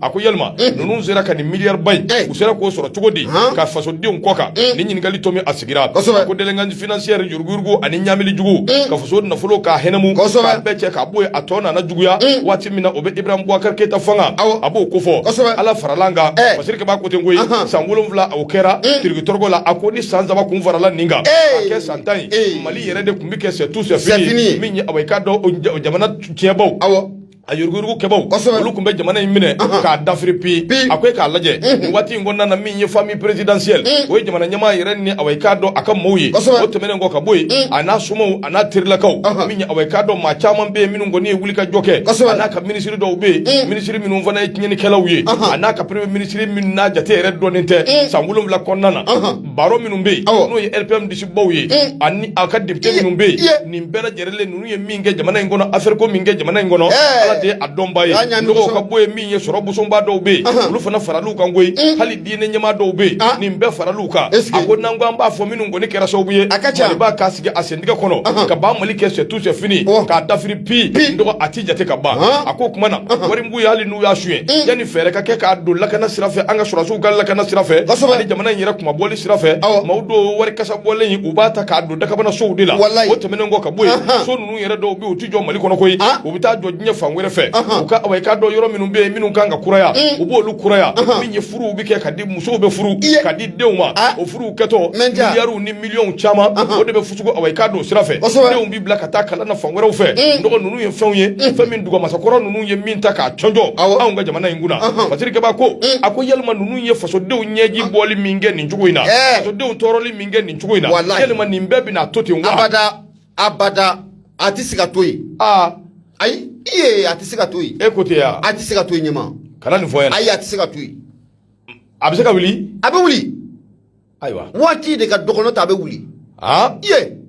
a ko yalima ninnu sera ka nin miliyari ba in u sera k'o sɔrɔ cogo di ka fasodenw kɔ kan ni ɲininkali to min a sigira ko délinquance financière yuruguyurugu ani ɲamili jugu ka faso nafolo k'a hɛnɛmu k'a bɛɛ cɛ k'a bɔ yen a tɔ nana juguya waati min na o bɛ ibrahima bubakari keyita fanga a b'o ko fɔ ala farala kan fasiri ba ko ten koyi san wolonwula o kɛra tirikitɔrɔgɔ la a ko ni san saba kun farala nin kan k'a kɛ san tan yɛrɛ de tun bɛ kɛ c'est tout c'est fini min ye awa i k'a dɔn jamana tiɲɛbaw a yuruguyurugu kɛbaw olu tun bɛ jamana in minɛ k'a dafiri pi a ko e k'a lajɛ waati in kɔnɔna na min ye famille présidentielle o ye jamana ɲɛmaa yɛrɛ ni awa i k'a dɔn a ka maaw ye o tɛmɛnen kɔ ka bɔ yen a n'a somaw a n'a terilakaw min ye awa i k'a dɔn maa caman bɛ yen minnu kɔni ye wuli ka jɔ kɛ a n'a ka minisiri dɔw bɛ yen minisiri minnu fana ye tiɲɛnlikɛlaw ye a n'a ka premier minisiri minnu n'a jate yɛrɛ dɔnnen tɛ san wolonwula kɔnɔna na baron minnu bɛ yen n'o ye rpm disibaw ye eh. ani a ka député minnu bɛ yen eh. nin bɛɛ lajɛlen ninnu ye min kɛ jamana in kɔnɔ affaire ko min kɛ jamana in kɔnɔ eh. ala de ye a dɔnba ye dɔgɔw ka bɔ yen min ye sɔrɔ bosoba dɔw bɛ yen olu fana faral'u kan koyi hali diinɛ ɲɛmaa dɔw bɛ yen ah. nin bɛɛ faral'u kan a ko n'an ko an b'a fɔ minnu kɔni kɛra sababu ye maliba k'a sigi a sentigɛ kɔnɔ ka ban mali kɛ c'est tout c'est fini oh. k'a dafiri pi dɔgɔ a tɛ jate ka ban a ko o tuma na wari b'u ye hali y'a suɲɛ yanni fɛɛrɛ ka kɛ k'a don lakana sira fɛ an ka sɔrɔdasiw ka lakana sira fɛ ani jamana in yɛrɛ kunmabɔli sira fɛ maaw don wari kasa bɔlen in u b'a ta k'a don dakabana sow de la o tɛmɛnen kɔ ka bɔ yen so ninnu yɛrɛ dɔw bɛ yen u tɛ jɔ mali kɔnɔ koyi u bɛ taa jɔ diɲɛ fan wɛrɛ fɛ u ka awa i k'a dɔn yɔrɔ minnu bɛ yen minnu kan ka kuraya u b'olu kuraya min ye furuw bɛ kɛ ka di musow bɛ furu ka di denw ma o furuw kɛtɔ miliyariw ni miliyɔnw caman o de bɛ i k'a dɔn sira fɛ denw bi bila ka taa kalan na fan wɛrɛw fɛ dɔgɔ ninnu ye fɛnw ye fɛn min dugu masakɔrɔ ninnu ye min ta k'a cɔnjɔ anw ka jamana in kunna fasirikɛba ko a ko yalima ninnu ye fasodenw ɲɛji bɔli min kɛ nin cogo in na fasodenw tɔɔrɔli min kɛ nin cogo in na yalima nin bɛɛ bɛna to ten abada abada a tɛ se ka to yen ayi a tɛ se ka to yen e ko ten ya a tɛ se ka to yen ɲɛma kana nin fɔ yan ayi a tɛ se ka to yen a bɛ se ka wuli a bɛ wuli ayiwa waati de ka dɔgɔ n'o tɛ a bɛ wuli aa iye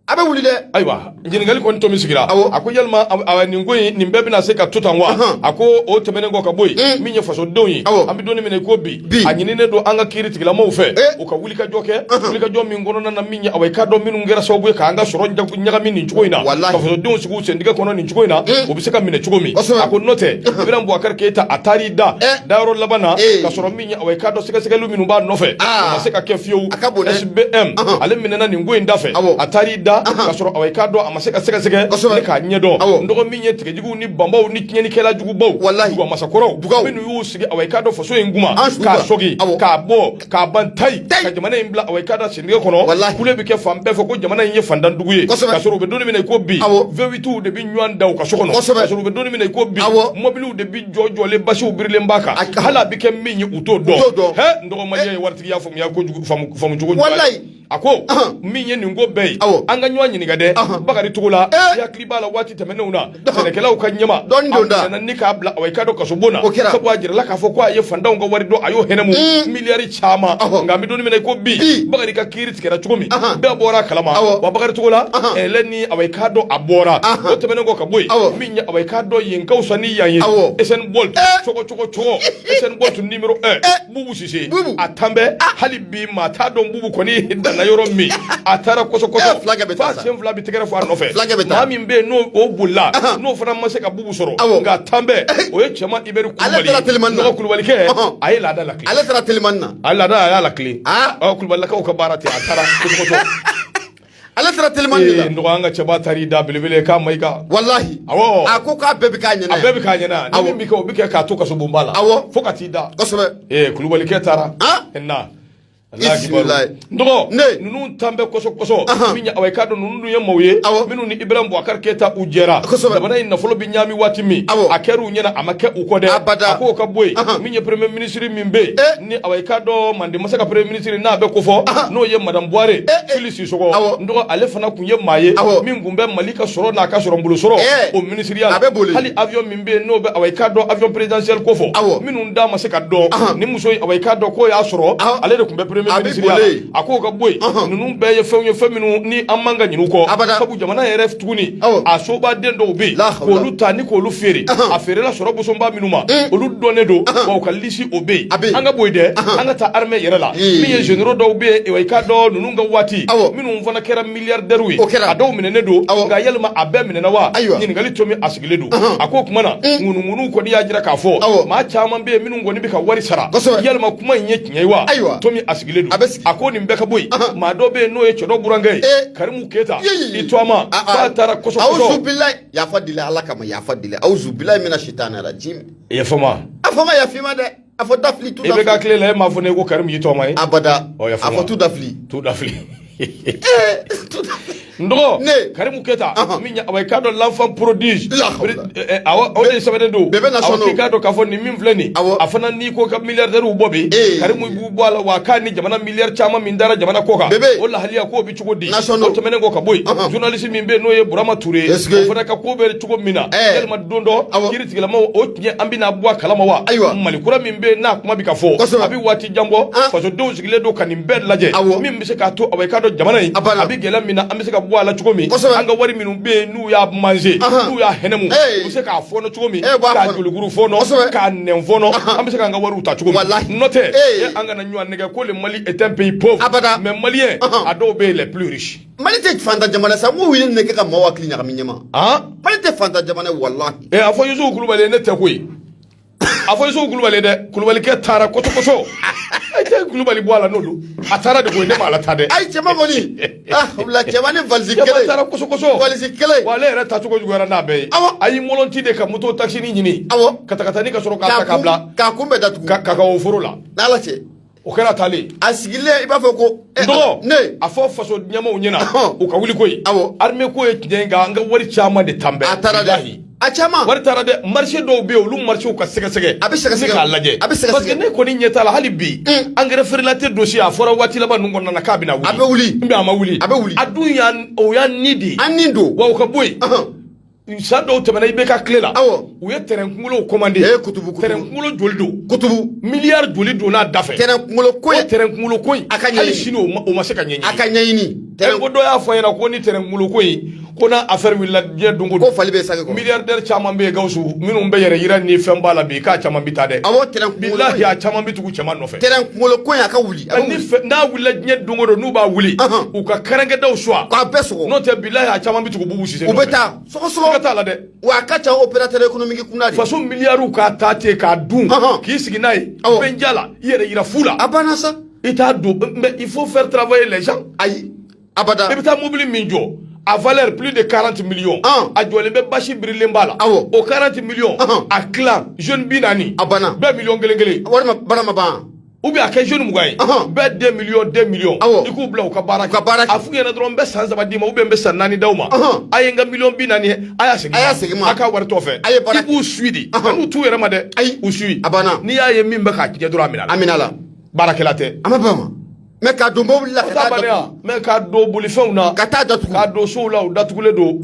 a bɛ wuli dɛ ayiwa ɲininkali kɔni tomi sigira awɔ a ko yalima nin ko in nin bɛɛ bɛna se ka to tan wa a ko o tɛmɛnen kɔ ka bɔ yen mm. min ye fasodenw ye awɔ an bɛ don min na i ko bi a ɲininen don an ka kiiri tigilamaw fɛ eh. u ka wulikajɔ kɛ wulikajɔ min kɔnɔna na min ye awa i k'a dɔn minnu kɛra sababu ye k'an ka sɔrɔ ɲagami nin cogo in na ka fasodenw sigi u sentigɛ kɔnɔ nin cogo in na mm. o bɛ se ka minɛ cogo min a ko n'o tɛ Ibrahim Boubacar Keita a taar'i da eh. dayɔrɔ laban na eh. ka sɔrɔ wa i k'a dɔn sɛgɛsɛgɛli minnu b'a nɔfɛ a ma se ka kɛ fiyewu SBM ale minɛna nin ko in da fɛ a taar'i da ka sɔrɔ awa i k'a dɔn a ma se ka sɛgɛsɛgɛ ni k'a ɲɛdɔn n dɔgɔ min ye tigɛjuguw ni banbaw ni tiɲɛnikɛla jugubaw duguba masakɔrɔw minnu y'u sigi awa i k'a dɔn faso in kunna k'a sɔgi k'a bɔ k'a ban tayi ka jamana in bila awa i k'a dɔn sentigɛ kɔnɔ kule bɛ kɛ fan bɛɛ fɛ ko jamana in ye fantandugu ye ka sɔrɔ u bɛ don min na i ko bi V8 de bɛ ɲɔgɔn da u ka so kɔnɔ ka sɔrɔ u bɛ don min na i ko bi mɔbiliw de bɛ jɔjɔlen basiw birilen b'a kan hali a bɛ kɛ min ye u t'o dɔn hɛ n dɔgɔmajɛ ye eh. waritigiya faamuya kojugu faamu cogo walayi a ko min ye nin ko bɛɛ ye an ka ɲɔgɔn ɲininka dɛ Bakari Togola eh. i hakili b'a la waati tɛmɛnenw na sɛnɛkɛlaw ka ɲɛmaa nana ni k'a bila awa i k'a dɔn kasobon na sabu a jirala k'a fɔ ko a ye fantanw ka wari dun a y'o hɛnɛmu mm. miliyari caman nka an bɛ don min na i ko bi Bakari ka kiiri tigɛra cogo min bɛɛ bɔra a kalama wa Bakari Togola ale ni awa i k'a dɔn a bɔra o tɛmɛnen kɔ ka bɔ yen min ye awa i k'a dɔn yen ka fisa ni yan ye Usain Bolt cogo cogo cogo Usain Bolt numéro un Bubu Sise a tanbɛ hali bi maa t'a dɔn Bubu kɔni danna yɔrɔ min a taara kɔsɔ kɔsɔ f'a sen fila bɛ tɛgɛrɛ fɔ a nɔfɛ maa min bɛ yen n'o bolila n'o fana ma se ka sɔrɔ nka tanbɛ o ye Cɛman Ibɛri Kulubalikɛ a ye laada lakilen ale taara telimani na a laada a y'a lakilen Kulubalilakaw ka baara ten a taara ale taara telimani de la n dɔgɔ an ka cɛba taar'i da belebele ka Mayiga walahi awɔ a ko k'a bɛɛ bɛ k'a ɲɛna a bɛɛ bɛ k'a ɲɛna ni min bɛ kɛ o bɛ kɛ k'a to kasobonba la awɔ fo ka t'i da kosɛbɛ ee Kulubalikɛ taara na dɔgɔ ninnu tanbɛ kɔsɔ kɔsɔ min ye awa i k'a dɔn ninnu dun ye maaw ye minnu ni Ibrahim Boubacar Keita u jɛra jamana in nafolo bɛ ɲaami waati min a kɛra u ɲɛna a ma kɛ u kɔ dɛ a k'o ka bɔ yen min ye premier ministre min bɛ yen eh. ni awa i k'a dɔn Mande masa ka premier ministre n'a bɛ ko fɔ n'o ye madame Buware Fili Sisɔkɔ n dɔgɔ ale fana tun ye maa ye min tun bɛ Mali ka sɔrɔ n'a ka sɔrɔ n bolo sɔrɔ eh. o minisiriya a bɛ Bole hali avion bɛ yen n'o bɛ awa i k'a dɔn avion présidentiel ko fɔ, awɔ, minnu da ma se ka dɔn, ɔnhɔn, ni muso in awa i k'a dɔn k'o y'a sɔrɔ, ɔnhɔn, ale de tun bɛ premier ministre ya la, a bɛ Bole yen, a k'o ka bɔ yen, ɔnhɔn, ninnu bɛɛ ye fɛnw ye fɛn minnu ni an man ka ɲinɛ u kɔ, abada, sabu jamana yɛrɛ tuguni, awɔ, a sobaden dɔw bɛ yen, la hawula, k'olu ta ni k'olu feere, ɔnhɔn, a feerela sɔrɔ bosonba minnu ma, un, olu dɔnnen don, ɔnhɔn, wa u ka lisi o bɛ yen, a bɛ yen, an ka bɔ yen dɛ, ɔnhɔn, an ka taa armée yɛrɛ la, ee, min ye généraux dɔw bɛ yen, awa i k'a dɔn ninnu ka waati, awɔ, minnu fana kɛra milliardaires ye, o kɛra, a dɔw minɛnen don, awɔ, nka yalima a bɛɛ minɛna wa? Ayiwa, ɲininkali tomi a don a ko o tuma na mm. ŋunuŋunu kɔni y'a jira k'a fɔ maa caman bɛ yen minnu kɔni bɛ ka wari sara yalima kuma in ye tiɲɛ ye wa ayiwa to min a sigilen don a ko nin bɛɛ ka bɔ yen maa dɔ bɛ yen n'o ye cɛ dɔ burankɛ ye eh. karimu keyita i tɔma k'a taara kɔsɔkɔsɔ awuzubilayi yafa deli ala kama yafa deli awuzubilayi mina sitani rajim yafa n ma a fɔ n ma yafa i ma dɛ A fɔ da fili IBK tile la e m'a fɔ ne ko karimu y'i tɔma ye abada a fɔ tu da fili tu da fili n dɔgɔ karimu keyita min ye aw i k'a dɔn l'enfant prodige awa o de sɛbɛ de don aw bɛ k'a dɔn k'a fɔ nin min filɛ nin a fana n'i ko ka milliardaires bɔ bi karimu b'u bɔ a la wa k'a ni jamana milliard caman min dara jamana kɔ kan o lahalaya k' cogo di o tɛmɛnen kɔ ka bɔ yen journaliste min bɛ yen n'o ye Burama Ture ye o fana ka ko bɛ cogo min na yalima don dɔ kiri tigɛlaw o tiɲɛ an bɛna bɔ a kalama wa Mali kura min bɛ yen n'a kuma bɛ ka fɔ a bɛ waati jan bɔ fasodenw sigilen don ka nin bɛɛ lajɛ min bɛ se k'a to aw i k'a dɔn jamana in a bɛ gɛlɛya min na an bɛ se ka bɔ a la cogo min an ka wari minnu bɛ yen n'u y'a mangé n'u y'a hɛnɛmu u bɛ se k'a fɔnɔ cogo min k'a jolikuru fɔnɔ k'a nɛn fɔnɔ an bɛ se k'an ka wariw ta cogo min n'o tɛ an kana ɲɔgɔn nɛgɛn ko le mali est un pays pauvre abada mais malien a dɔw bɛ les plus riches mali tɛ faantan jamana sa mɔgɔ wulilen kɛ ka maaw hakili ɲagami ɲɛma han mali tɛ faantan jamana wallahi eh a fɔ yusufu kulubali ne tɛ koyi a fɔ yusufu kulubali dɛ kulubalikɛ taara kɔsɔkɔsɔ tɛ kulubali bɔ a la n'o don a taara de koyi ne ma ala ta dɛ ayi cɛman kɔni ah o bila cɛman ni valisi kelen cɛman taara kɔsɔkɔsɔ valisi kelen wa ale yɛrɛ tacogo juguyara n'a bɛɛ ye awɔ a y'i mɔlɔnti de ka moto takisini ɲini awɔ katakatani ka sɔrɔ k'a ta k'a bila k'a kun bɛɛ datugu ka kakawo foro la n'ala cɛ o kɛra taalen a sigilen i b'a fɔ ko eh, dɔgɔ ne a fɔ faso ɲɛmɔgɔw ɲɛna u ka wuli koyi awɔ armée ko ye tiɲɛ ye an ka wari caman de taanen bɛ a taara dɛ a caman wari taara dɛ marché dɔw bɛ yen olu marché ka sɛgɛsɛgɛ a bɛ sɛgɛsɛgɛ k'a lajɛ a bɛ sɛgɛsɛgɛ parce que ne kɔni ɲɛ t'a la hali bi mm. engrais frelaté dossier a fɔra waati laban ninnu kɔnɔna na k'a bɛna wuli a bɛ wuli mais a ma wuli a bɛ wuli a dun o y'an ni de ye an ni don wa o ka bɔ yen San dɔw tɛmɛna IBK tile la u ye tɛrɛn kunkolow kɔmande kutubu tɛrɛn kunkolo joli don kutubu milliard joli don n'a da fɛ tɛrɛn kunkolo ko ye tɛrɛn kunkolo ko in a ka ɲɛɲini hali sini o ma se ka ɲɛ a ka ɲɛɲini tɛrɛn ko dɔ y'a fɔ a ɲɛna ko ni tɛrɛn kunkolo ko in ko n'a affaire wulila diɲɛ don o don ko fali bɛ sange kɔrɔ milliardaires caman bɛ yen Gawusu minnu bɛ yɛrɛ yira ni fɛn b'a la bi k'a caman bɛ taa dɛ awɔ tɛrɛn kunkolo ko in bilahi a caman bɛ tugu cɛman nɔfɛ tɛrɛn kunkolo ko in a ka wuli n'a wulila diɲɛ don o don n'u b'a wuli u ka kɛrɛnkɛdaw suwa k'a bɛɛ sɔgɔ n'o tɛ bilahi a caman bɛ tugu Bubu Sise nɔfɛ u bɛ taa ka t'a la dɛ wa a ka ca opérateur économique kun faso milliardw k'a ta ten k'a dun k'i sigi n'a ye Abijan la i yɛrɛ yira fu la a banna sa i t'a dɔn il faut faire travailler les gens ayi abada i bɛ taa mobili min jɔ a valeur plus de 40 millions ah. a jɔlen bɛ basi birilen b'a la awɔ o 40 millions ah. a tilan jeune bi naani a banna bɛɛ miliyɔn kelen kelen wari ma ban a ma ban ou bien a kɛ jeune mugan ye bɛɛ deux millions deux millions i k'u bila u ka baara kɛ a f'u ɲɛna dɔrɔn n bɛ san saba d'i ma ou bien n bɛ san naani d'aw ma a ye n ka miliyɔn bi naani ye a y'a segin a y'a segin n ma a k'a wari tɔ fɛ i b'u suit de kan'u t'u yɛrɛ ma dɛ ayi u suit a banna n'i y'a ye min bɛ k'a tiɲɛ dɔrɔn a minɛ a la a minɛ a la baarakɛla tɛ a ma bɛn o ma mais k'a don mobili la ka taa mais k'a don bolifɛnw na ka taa datugu k'a don sow la u datugulen don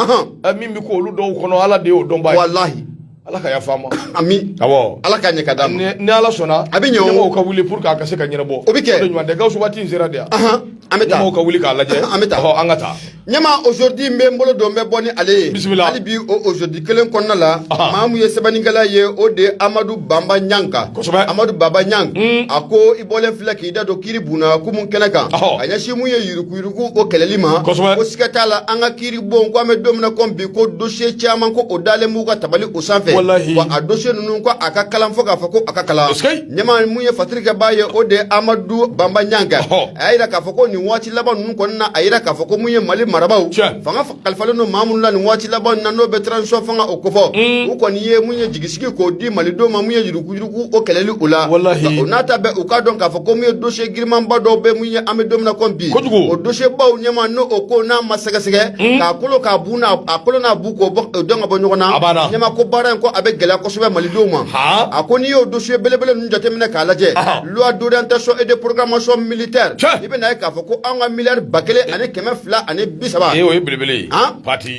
min bɛ ko olu dɔw kɔnɔ ala de y'o dɔnbaa ye walahi ala ka yafa ma ami awɔ ala ka ɲɛ ka d'a ma ni ala sɔnna a bɛ ɲɛ ɲɛmɔgɔw ka wuli pour que a ka se ka ɲɛnabɔ o bɛ kɛ o de ɲuman tɛ gawusu waati in sera de yan an bɛ taa ɲɛmɔgɔw ka wuli k'a lajɛ an bɛ taa an ka taa ɲɛma aujourd'hui n bɛ n bolo don n bɛ bɔ ni ale ye Bisimila. hali bi o aujourd'hui kelen kɔnɔna la Aha. maa min ye sɛbɛnnikɛla ye o de ye amadu banba ɲang Kosɛbɛ. amadu banba ɲang Mm. a ko i bɔlen filɛ k'i da don kiri bon na kumu kɛnɛ kan Ɔhɔ. k'a ɲɛsin mun ye yuruguyurugu o kɛlɛli ma Kosɛbɛ. ko siga t'a la an ka kiri bon ko an bɛ don min na kɔmi bi ko dosiye caman ko o dalen b'u ka tabali o sanfɛ Walahi. wa a dosiye ninnu ko a ka kalan fo k'a fɔ ko a ka kalan Eskeyi. Ɲɛma mun ye fatiri kɛbaa ye o de amadu banba ɲang a y'a jira k'a fɔ ko nin waati laban ninnu kɔnɔna na a y'a jira k'a fɔ ko mun ye mali marabaaw fanga kalifalen don maa minnu na nin waati laban na n'o bɛ transition fanga o kofɔ u kɔni ye mun ye jigisigi k'o di malidenw ma min ye yuruguyurugu o kɛlɛli o la o n'a ta bɛɛ u k'a dɔn k'a fɔ ko mun ye dosiye girinmanba dɔw bɛ mun ye an bɛ don min na kɔmi bi o dosiyebaw ɲɛma n'o o ko n'a ma sɛgɛsɛgɛ k'a kolo k'a bu a kolo k'o dɔn ka bɔ ɲɔgɔn na ɲɛma ko baara in ko a bɛ gɛlɛya kosɛbɛ malidenw ma a ko n'i y'o dosiye belebele ninnu jateminɛ k'a lajɛ loi d'orientation et de programmation militaire i bɛ na ye k'a fɔ ko an ka miliyari ba kelen ani kɛmɛ fila ani bi saba o ye belebele ye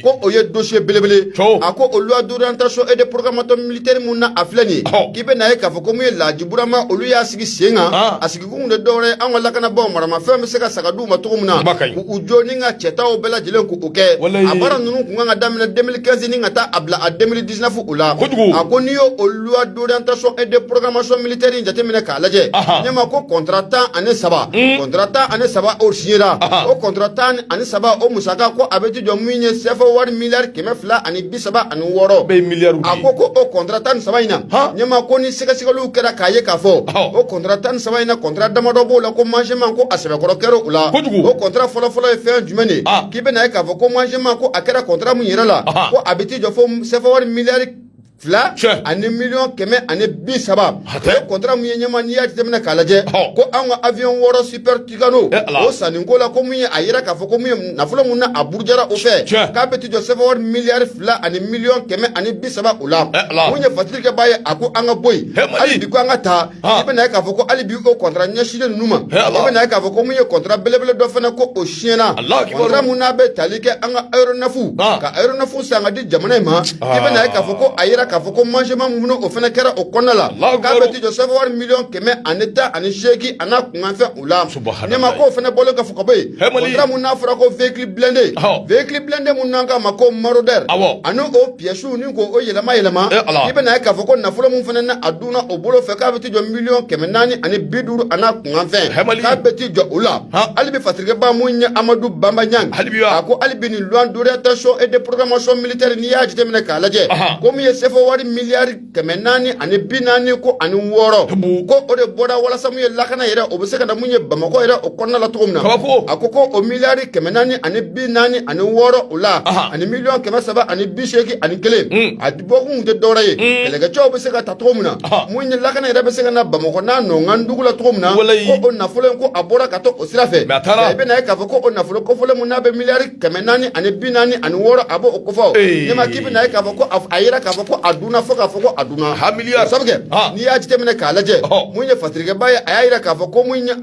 ko o ye dosiye belebele a ko o loi d'orientation et de programmation militaire mun na a filɛ nin ye k'i bɛ na ye k'a fɔ ko mun ye laji burama olu y'a sigi sen kan a sigi Kun tɛ dɔwɛrɛ an ka lakanabaaw maramafɛn bɛ se ka san ka di u ma cogo min na k'u jɔ ni ka cɛtaw bɛɛ lajɛlen k'o kɛ a baara ninnu tun kan ka daminɛ deux mille quinze ni ka taa a bila a deux mille dix-neuf o la a ko n'i y'o o loi d'orientation et de programmation militaire in jateminɛ k'a lajɛ ɲɛma ko kɔntara tan ani saba kɔntara tan ani saba o siɲera o kɔntara tan ani saba o musaka ko a bɛ t'i jɔ min ye sɛfawari miliyari kɛmɛ fila ani saba ani wɔɔrɔ bɛɛ mi a ko ko o kɔntara tan ni saba in na ɲɛma ko ni sɛgɛsɛgɛliw kɛra k'a ye k'a fɔ o kɔntara tan ni saba in na kɔntara damadɔ b'o la ko mangement ko a sɛbɛkɔrɔ kɛra o la o kɔntara fɔlɔfɔlɔ ye fɛn jumɛn de ye k'i bɛna ye k'a fɔ ko mangement ko a kɛra kɔntara min yɛrɛ la ko a bɛ t'i jɔ fo sɛfawari miliyari fila ani miliyɔn kɛmɛ ani bi saba o kɔntara min ye ɲɛma n'i y'a jateminɛ k'a lajɛ ko anw ka avion wɔɔrɔ super Tucano ee Ala o sanni ko la ko min ye a yira k'a fɔ ko mun ye nafolo mun n'a a burujara o fɛ Tiɲɛ k'a bɛ t'i jɔ CFA wari miliyari 2 ani miliyɔn 130 o la ee Ala mun ye fatirikɛba ye a ko an ka bɔ yen ee Mali hali bi ko an ka taa i bɛna ye k'a fɔ ko hali bi o kɔntara ɲɛsilen ninnu ma ee Ala i bɛna ye k'a fɔ ko min ye kɔntara belebele dɔ fana ko o siɲɛna Alahu akibaru kɔntara mun n'a bɛ tali kɛ an ka aéronefs ka aéronefs san ka di jamana in ma i bɛna ye k'a fɔ ko a yira k'a fɔ ko manquement mun o fana kɛra o kɔnɔna la k'a bɛ t'i jɔ CFA wari miliyɔn 118 a n'a Kanfɛn o la ne ma k'o fana bɔlen kɔfɛ ka bɔ yen kɔntara mun n'a fɔra ko véhicule blindé véhicule blindé mun n'an k'a ma ko Marauder ani o piyɛsiw ni ko o yɛlɛma yɛlɛma i bɛna ye k'a fɔ ko nafolo mun fana n'a dunna o bolo fɛ k'a bɛ t'i jɔ miliyɔn kɛmɛ naani ani bi duuru a n'a kunkanfɛn k'a bɛ t'i jɔ o la hali bi fatirikɛba mun ye amadu banba niang a ko hali bi nin loi d'orientation et de programmation militaire n'i y'a jateminɛ k'a lajɛ ko min ye sefa wari miliyari kɛmɛ naani ani bi naani ko ani wɔɔrɔ ko o de bɔra walasa mun ye lakana yɛrɛ o bɛ se ka na mun ye bamakɔ yɛrɛ o kɔnɔna la cogo min na a ko ko o miliyari kɛmɛ naani ani bi naani ani wɔɔrɔ o la ani miliyɔn kɛmɛ saba ani bi seegin ani kelen hmm. a bɔkun tɛ dɔwɛrɛ ye hmm. kɛlɛkɛcɛw bɛ se ka ta cogo min na mun ye lakana yɛrɛ bɛ se ka na bamakɔ n'a nɔnkan dugu la cogo min na ko o nafolo in ko a bɔra ka to o sira fɛ i bɛna ye k'a fɔ ko o nafolo kofɔlen mun n'a bɛ miliyari kɛmɛ naani ani bi naani ani wɔɔrɔ a b'o kofɔ ne ma k'i bɛna ye k'a fɔ ko a yira k'a fɔ ko a dunna fo k'a fɔ ko a dunna hamiya sabu kɛ n'i y'a jateminɛ k'a lajɛ mun ye fatirikɛba ye a y'a yira k'a fɔ ko mun ye an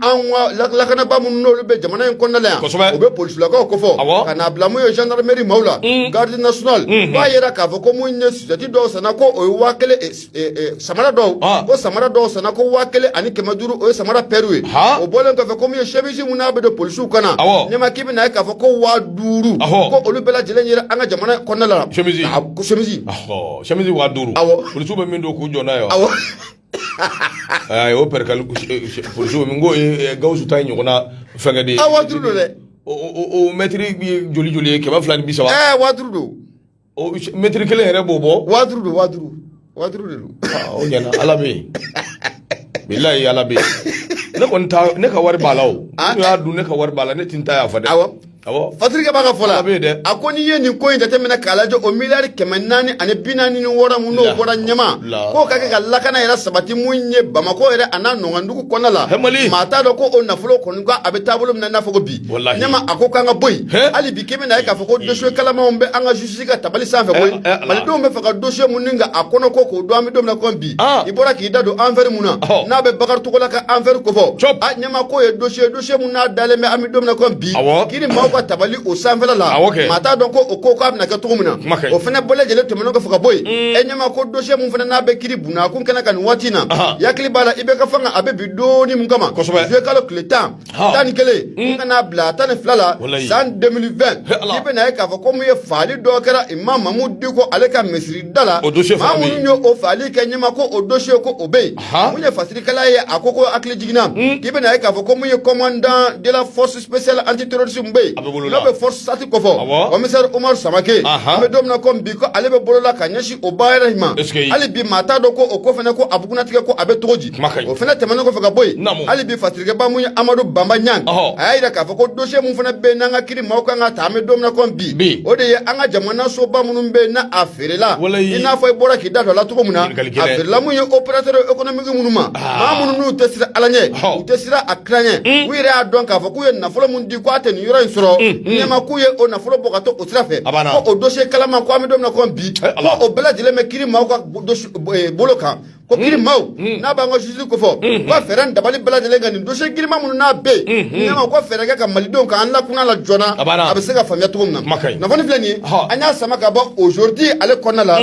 ka lakanaba minnu n'olu bɛ jamana in kɔnɔna la yan kosɛbɛ o bɛ polisilakaw kofɔ ka n'a bila mun ye gendarmerie maaw la garde nationale b'a yira k'a fɔ ko mun ye sosɛti dɔw sanna ko o ye waa kelen samara dɔw ko samara dɔw sanna ko waa kelen ani kɛmɛ duuru o ye samara pɛriw ye o bɔlen kɔfɛ ko mun ye chemise mun n'a bɛ don polisiw kan na ne ma k'i bɛ na ye k'a fɔ ko waa duuru ko olu bɛɛ lajɛlen yera an ka jamana kɔnɔna la chemise waa duuru polisiw bɛ min don k'u jɔ n'a ye o perikali min ko Gawusu ta ɲɔgɔn na fɛnkɛ de ye waa duuru don dɛ o mɛtiri joli joli ye kɛmɛ fila ni bi saba waa duuru don o mɛtiri kelen yɛrɛ b'o bɔ waa duuru don waa duuru waa duuru de don o ɲɛna ala bɛ yen bilayi ala bɛ yen ne kɔni ta ne ka wari b'a la o n'u y'a dun ne ka wari b'a la ne ti n ta yafa dɛ awɔ awɔ fatirikɛba ka fɔ la a bɛ yen dɛ a ko n'i ye nin ko in jateminɛ k'a lajɛ o miliyari kɛmɛ naani ani bi naani ni wɔɔrɔ mun n'o La- bɔra ɲɛma la- k'o ka kɛ ka lakana yɛrɛ sabati mun ye bamakɔ yɛrɛ a n'a nɔnkan dugu kɔnɔna la Hɛ, Mali. maa t'a dɔn ko o nafolo kɔni ko a bɛ taabolo min na i n'a fɔ ko bi Wallahi. Ɲɛma a ko k'an ka bɔ yen. Hɛ? Hali bi k'i bɛna ye k'a fɔ ko dossier kalamanw bɛ an ka justice ka tabali sanfɛ koyi. Eh, eh, ala. Malidenw b'a fɛ ka dossier mun ɲininka a kɔnɔko k'o dɔn an bɛ don min na ko bi. Ah. I bɔra k'i da don affaire mun na. Ɔhɔ. N'a bɛ Bakari Togola ka affaire kofɔ. Cop. A ɲɛma k'o ye dossier dossier mun n'a dalen bɛ an bɛ don min na ko bi. Awɔ. Kiri maaw ka tabali o sanfɛla la. Awɔ kɛ. Maa t'a dɔn ko o ko k'a bɛna kɛ cogo min na. Kuma ka ɲi. O fana bɛɛ lajɛlen tɛmɛnen kɔfɛ ka bɔ yen. E ɲɛma ko dossier mun fana n'a bɛ kiri bunakun kɛnɛ kan nin waati in na. Aha. I hakili b'a la IBK fanga a bɛ bin dɔɔni mun kama. Kosɛbɛ. Juillet kalo tile tan. Ɔn. tan ni kelen ka n'a bila tan ni fila la Walayi. san 2020 He, Ala. i bɛna ye k'a fɔ ko mun ye faali dɔ kɛra imam Mamudu Diko ale ka misiri da la O dossier fana maa bɛ yen. minnu ye o faali kɛ ɲɛma ko o dossier ko o bɛ yen Aha. mun ye fasirikɛla ye a ko ko hakilijigin na i bɛna ye k'a fɔ ko mun ye commandant de la force spéciale antiterrorisme bɛ yen A bɛ bolo la. n'o bɛ FORSAT kofɔ Awɔ. commissaire Omar Samake Aha. an bɛ don min na ko bi ko ale bɛ bolo la ka ɲɛsin o baara in ma Est-ce que- hali bi maa t'a dɔn ko o ko fana ko a bugunnatigɛ ko a bɛ cogo di kuma ka ɲi o fana tɛmɛnen kɔfɛ ka bɔ yen Naamu. hali bi fasirikɛba mun ye amadu banba ɲang Ɔhɔ. a y'a yira k'a fɔ ko dosiye mun fana bɛ yen n'an ka kiri maaw kan ka ta an bɛ don min na ko bi Bi. o de ye an ka jamana soba minnu bɛ yen n'a a feerela Walayi. i n'a fɔ i bɔra k'i da don a la cogo min na Ɲininkali a gɛlɛn. feerela mun ye opérateur économique minnu ma maa minnu n'u tɛ siran ala ɲɛ Ɔhɔ. u tɛ siran a kira ɲɛ u yɛrɛ y'a dɔn k'a fɔ k'u ye nafolo min di ko a tɛ nin yɔrɔ in sɔrɔ ɲɛma k'u ye o nafolo bɔ ka to o sira fɛ A banna. ko o dosiye kalaman ko an bɛ don min na ko bi Eh, Ala. ko o bɛɛ lajɛlen bɛ kiri maaw ka dosi- eh, bolo kan ko kiri hmm. maaw hmm. n'a b'an ka justice kofɔ hmm. ko fɛɛrɛ ni dabali bɛɛ lajɛlen ka nin dossier girinman minnu n'a bɛ yen ɲɛma ko fɛɛrɛ kɛ ka malidenw ka an lakuna la joona a bɛ se ka faamuya cogo min na kunnafoni filɛ nin ye an y'a sama ka bɔ aujourd'hui ale kɔnɔna la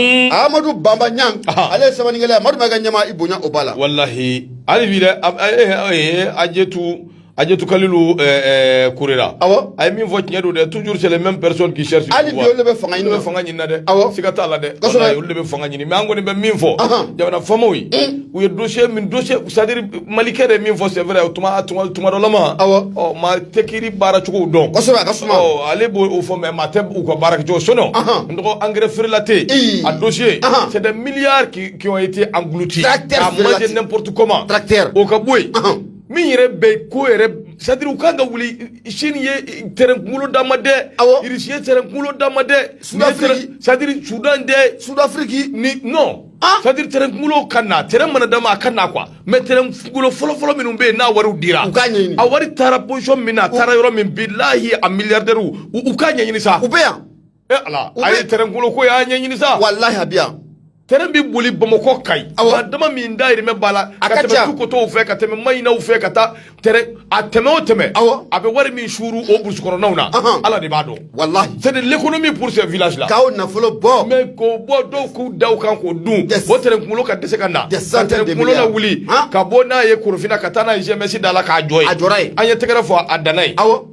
amadu banba ɲang ale ye sɛbɛnnikɛla ye Madu Mayiga ɲɛma i bonya o b'a la walahi hali bi dɛ Ajetu Ajetu Kalilu Kurera awɔ a ye min fɔ tiɲɛ don dɛ toujours c'est les mêmes personnes qui cherchent hali bi olu de bɛ fanga ɲini na fanga ɲini na dɛ awɔ siga t'a la dɛ kosɛbɛ olu de bɛ fanga ɲini mais an kɔni bɛ min fɔ jamana faamaw ye u ye dossier min dossier c'est à dire malikɛ de ye min fɔ c'est vrai tuma tuma tuma dɔ la maa awɔ ɔ maa tɛ kiri baara cogow dɔn kosɛbɛ a ka suma ɔ ale b'o o fɔ mais maa tɛ u ka baara kɛ cogo sinon n dɔgɔ engrais frelaté a dossier c'est des milliards qui qui ont été engloutis à manger n'importe comment tracteur o ka bɔ yen min yɛrɛ bɛ ko yɛrɛ c'est à dire u kan ka wuli Sini ye tɛrɛn kunkolo d'an ma dɛ awɔ Irisi ye tɛrɛn kunkolo d'an ma dɛ sudafiriki c'est à dire sudan dɛ sudafiriki ni non ah! c'est à dire tɛrɛn kunkolo ka na tɛrɛn mana d'an ma a ka na quoi mais tɛrɛn kunkolo fɔlɔfɔlɔ minnu bɛ yen n'a wariw dira u k'a ɲɛɲini a wari taara position min na a taara yɔrɔ min bilahi a miliyardɛriw u k'a ɲɛɲini sa u bɛ yan e ala a ye tɛrɛn kunkolo ko y'a ɲɛɲini sa walahi a bi yan tɛrɛn bɛ boli bamakɔ Kayi awa jama min dayirimɛ b'a la a ka tɛmɛ Tukotow fɛ ka tɛmɛ mayinaw fɛ ka taa tɛrɛn a tɛmɛ o tɛmɛ awa a bɛ wari min suuru o burusukɔnɔnaw na ala de b'a dɔn walahi c'est de l'économie pour ce village là k'aw nafolo bɔ mais k'o bɔ dɔw k'u da o kan k'o dun o tɛrɛn kunkolo ka dɛsɛ ka na ka tɛrɛn kunkolo lawuli ka bɔ n'a ye korofina ka taa n'a ye GMS da la k'a jɔ yen a jɔra yen an ye tɛgɛrɛ fɔ a danna yen awa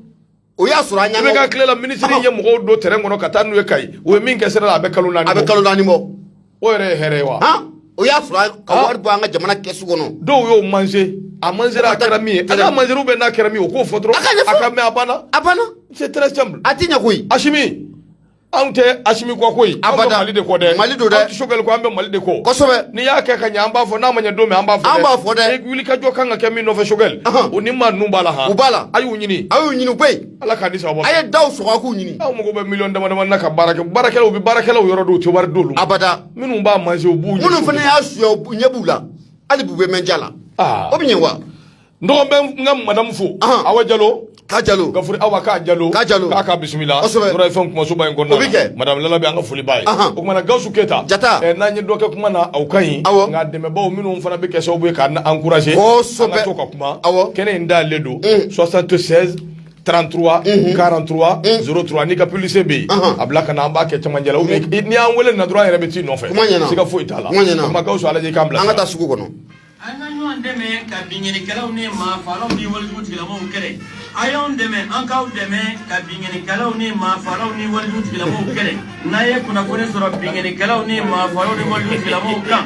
o y'a sɔrɔ an ɲa ka tile la minisiri ye mɔgɔw don tɛrɛn kɔnɔ ka taa n'u ye Kayi o ye min kɛ sira la a bɛ kalo naani a bɛ kalo naani bɔ o yɛrɛ ye hɛrɛ ye wa o y'a sɔrɔ ka wari bɔ an ka jamana kɛsu kɔnɔ dɔw y'o manze a manzera a kɛra min ye a manzera ou bien a kɛra min ye u k'o fɔ dɔrɔn an k'a mɛn a banna a banna c'est très simple a tɛ ɲɛ koyi Asimi anw tɛ asimi kɔ koyi an bɛ mali de kɔ dɛ mali do dɛ anw tɛ sokɛli kɔ an bɛ mali de kɔ kosɛbɛ n'i y'a kɛ ka ɲɛ an b'a fɔ n'a ma ɲɛ don min an b'a fɔ dɛ an b'a fɔ dɛ wuli ka jɔ kan ka kɛ min nɔfɛ sokɛli o ni maa ninnu b'a la han u b'a la a y'u ɲini a y'u ɲini koyi ala k'a ni sababa a ye daw sɔgɔ a k'u ɲini aw mago bɛ miliyɔn dama dama na ka baara kɛ baarakɛlaw bɛ baarakɛlaw yɔrɔ dɔw tɛ wari d'olu ma abada minnu b'a manger u b'u ɲɛ minnu fana y'a suya ɲɛ b'u la hali b'u bɛ mɛn ja la o bɛ ɲɛ wa Dɔgɔ bɛ n ka madamu fo awa jalo ka jalo ka awa ka jalo ka jalo k'a ka bisimila fɛn kumasoba in kɔnɔna madamu lala bɛ an ka foli b'a ye o kuma na gawusu keyita jata n'an ye dɔ kɛ kuma na aw ka ɲi nka dɛmɛbaw minnu fana bɛ kɛ sababu ye k'an encourager an ka to ka kuma kɛnɛ in dayɛlɛlen don soixante-seize trente-trois quarante-trois zéro trois n'i ka publicité bɛ yen a bila ka na an b'a kɛ cɛmancɛ la n'i y'an weele na dɔrɔn an yɛrɛ bɛ s'i nɔfɛ siga foyi t'a la o kuma gawusu a lajɛ i k'an bila an ka taa sugu kɔnɔ an ka ɲɔgɔn dɛmɛ ka binkanikɛlaw ni maafaalaw ni walejugu tigilamɔgɔw kɛlɛ a y'anw dɛmɛ an k'aw dɛmɛ ka binkanikɛlaw ni maafaalaw ni walejugu tigilamɔgɔw kɛlɛ n'a ye kunnafoni sɔrɔ binkanikɛlaw ni maafaalaw ni walejugu tigilamɔgɔw kan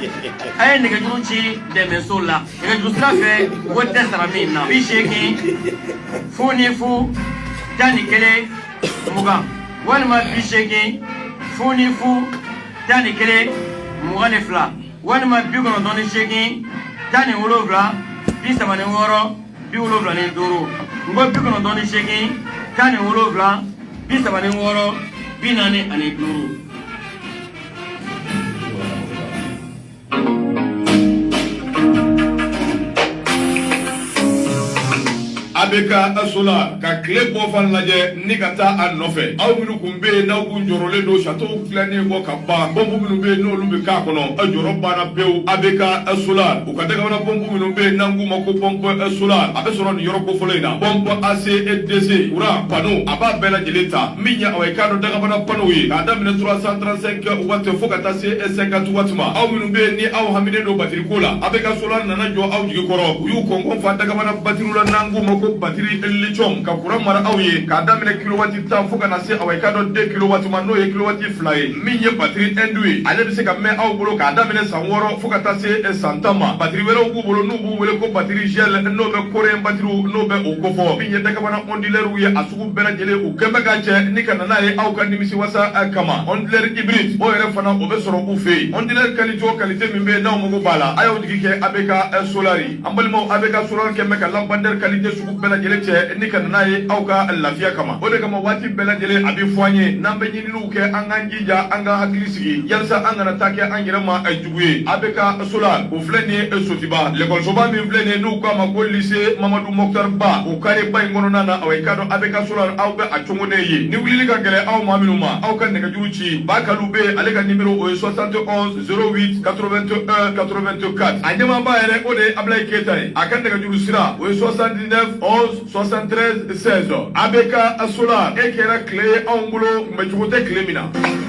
a ye nɛgɛjuru ci dɛmɛso la nɛgɛjuru sira fɛ wari tɛ sara min na bi seegin fu ni fu tan ni kelen mugan walima bi seegin fu ni fu tan ni kelen mugan ni fila walima bi kɔnɔntɔn ni seegin tan ni wolonwula bi saba ni wɔɔrɔ bi wolonwula ni duuru n ko bi kɔnɔntɔn ni seegin tan ni wolonwula bi saba ni wɔɔrɔ bi naani ani duuru abeka sola ka kile bɔ fan lajɛ ni ka taa a nɔfɛ aw minnu kun bɛ yen n'aw kun jɔrɔlen don satow dilannen kɔ ka ban pɔnpu minnu bɛ yen n'olu bɛ k'a kɔnɔ a jɔrɔ banna pewu abeka sola u ka dagabana pɔnpu minnu bɛ yen n'an k'u ma ko pɔnpe sola a bɛ sɔrɔ nin yɔrɔ kofɔlen in na pɔnpe ACDC kuran pano a b'a bɛɛ lajɛlen ta min ye aw ye k'a dɔn dagabana panow ye k'a daminɛ 335 wati fo ka taa se 50 wati ma aw minnu bɛ yen ni aw haminen don batiri ko la abeka sola nana jɔ aw jigi kɔrɔ u y'u kɔnkɔn fa dagabana batiriw la n'an k'u ma ko batiri lithium ka kuran mara aw ye k'a daminɛ kilowati tan fo ka na se aw ye k'a dɔn deux kilowati ma n'o ye kilowati fila ye min ye batiri indu ye ale bɛ se ka mɛn aw bolo k'a daminɛ san wɔɔrɔ fo ka taa se eh, san tan ma batiri wɛrɛw b'u bolo n'u b'u wele ko batiri gel n'o bɛ koreyɛn batiriw n'o bɛ o kofɔ min ye dagabana ɔndilɛriw ye a u bɛɛ lajɛlen u kɛmɛ ka cɛ ni ka na n'a ye aw ka nimisi wasa eh, kama ɔndilɛri hybride o yɛrɛ fana o bɛ sɔrɔ u fɛ yen ɔndilɛri kalite o kalite min bɛ n'aw mago b'a la a y'aw jigi kɛ abeka eh, solari an balimaw abeka solari kɛmɛ ka lanpadɛri kalite sugu bɛɛ lajɛlen cɛ ni ka na n'a ye aw ka lafiya kama o de kama waati bɛɛ lajɛlen a bɛ fɔ an ye n'an bɛ ɲininiw kɛ an k'an jija an ka hakili sigi yalasa an kana taa kɛ an yɛrɛ ma eh, jugu ye ABK Solar o filɛ nin ye sotiba lɛkɔlisoba min filɛ nin ye n'u k'a ma ko lise mamadu mɔkutari ba o kareba in kɔnɔna na awa i k'a dɔn ABK Solar aw bɛ a cogonen ye ni wulili ka gɛlɛn aw maa minnu ma aw ka nɛgɛjuru ci ba kalu bɛ ale ka nimero o ye 71 08 81 84 a ɲɛmaaba yɛrɛ o de ye abulayi keyita ye a ka nɛgɛjuru sira o ye 79 11 73 16 ABK Solar e kɛra tile ye anw bolo kunbɛcogo tɛ tile min na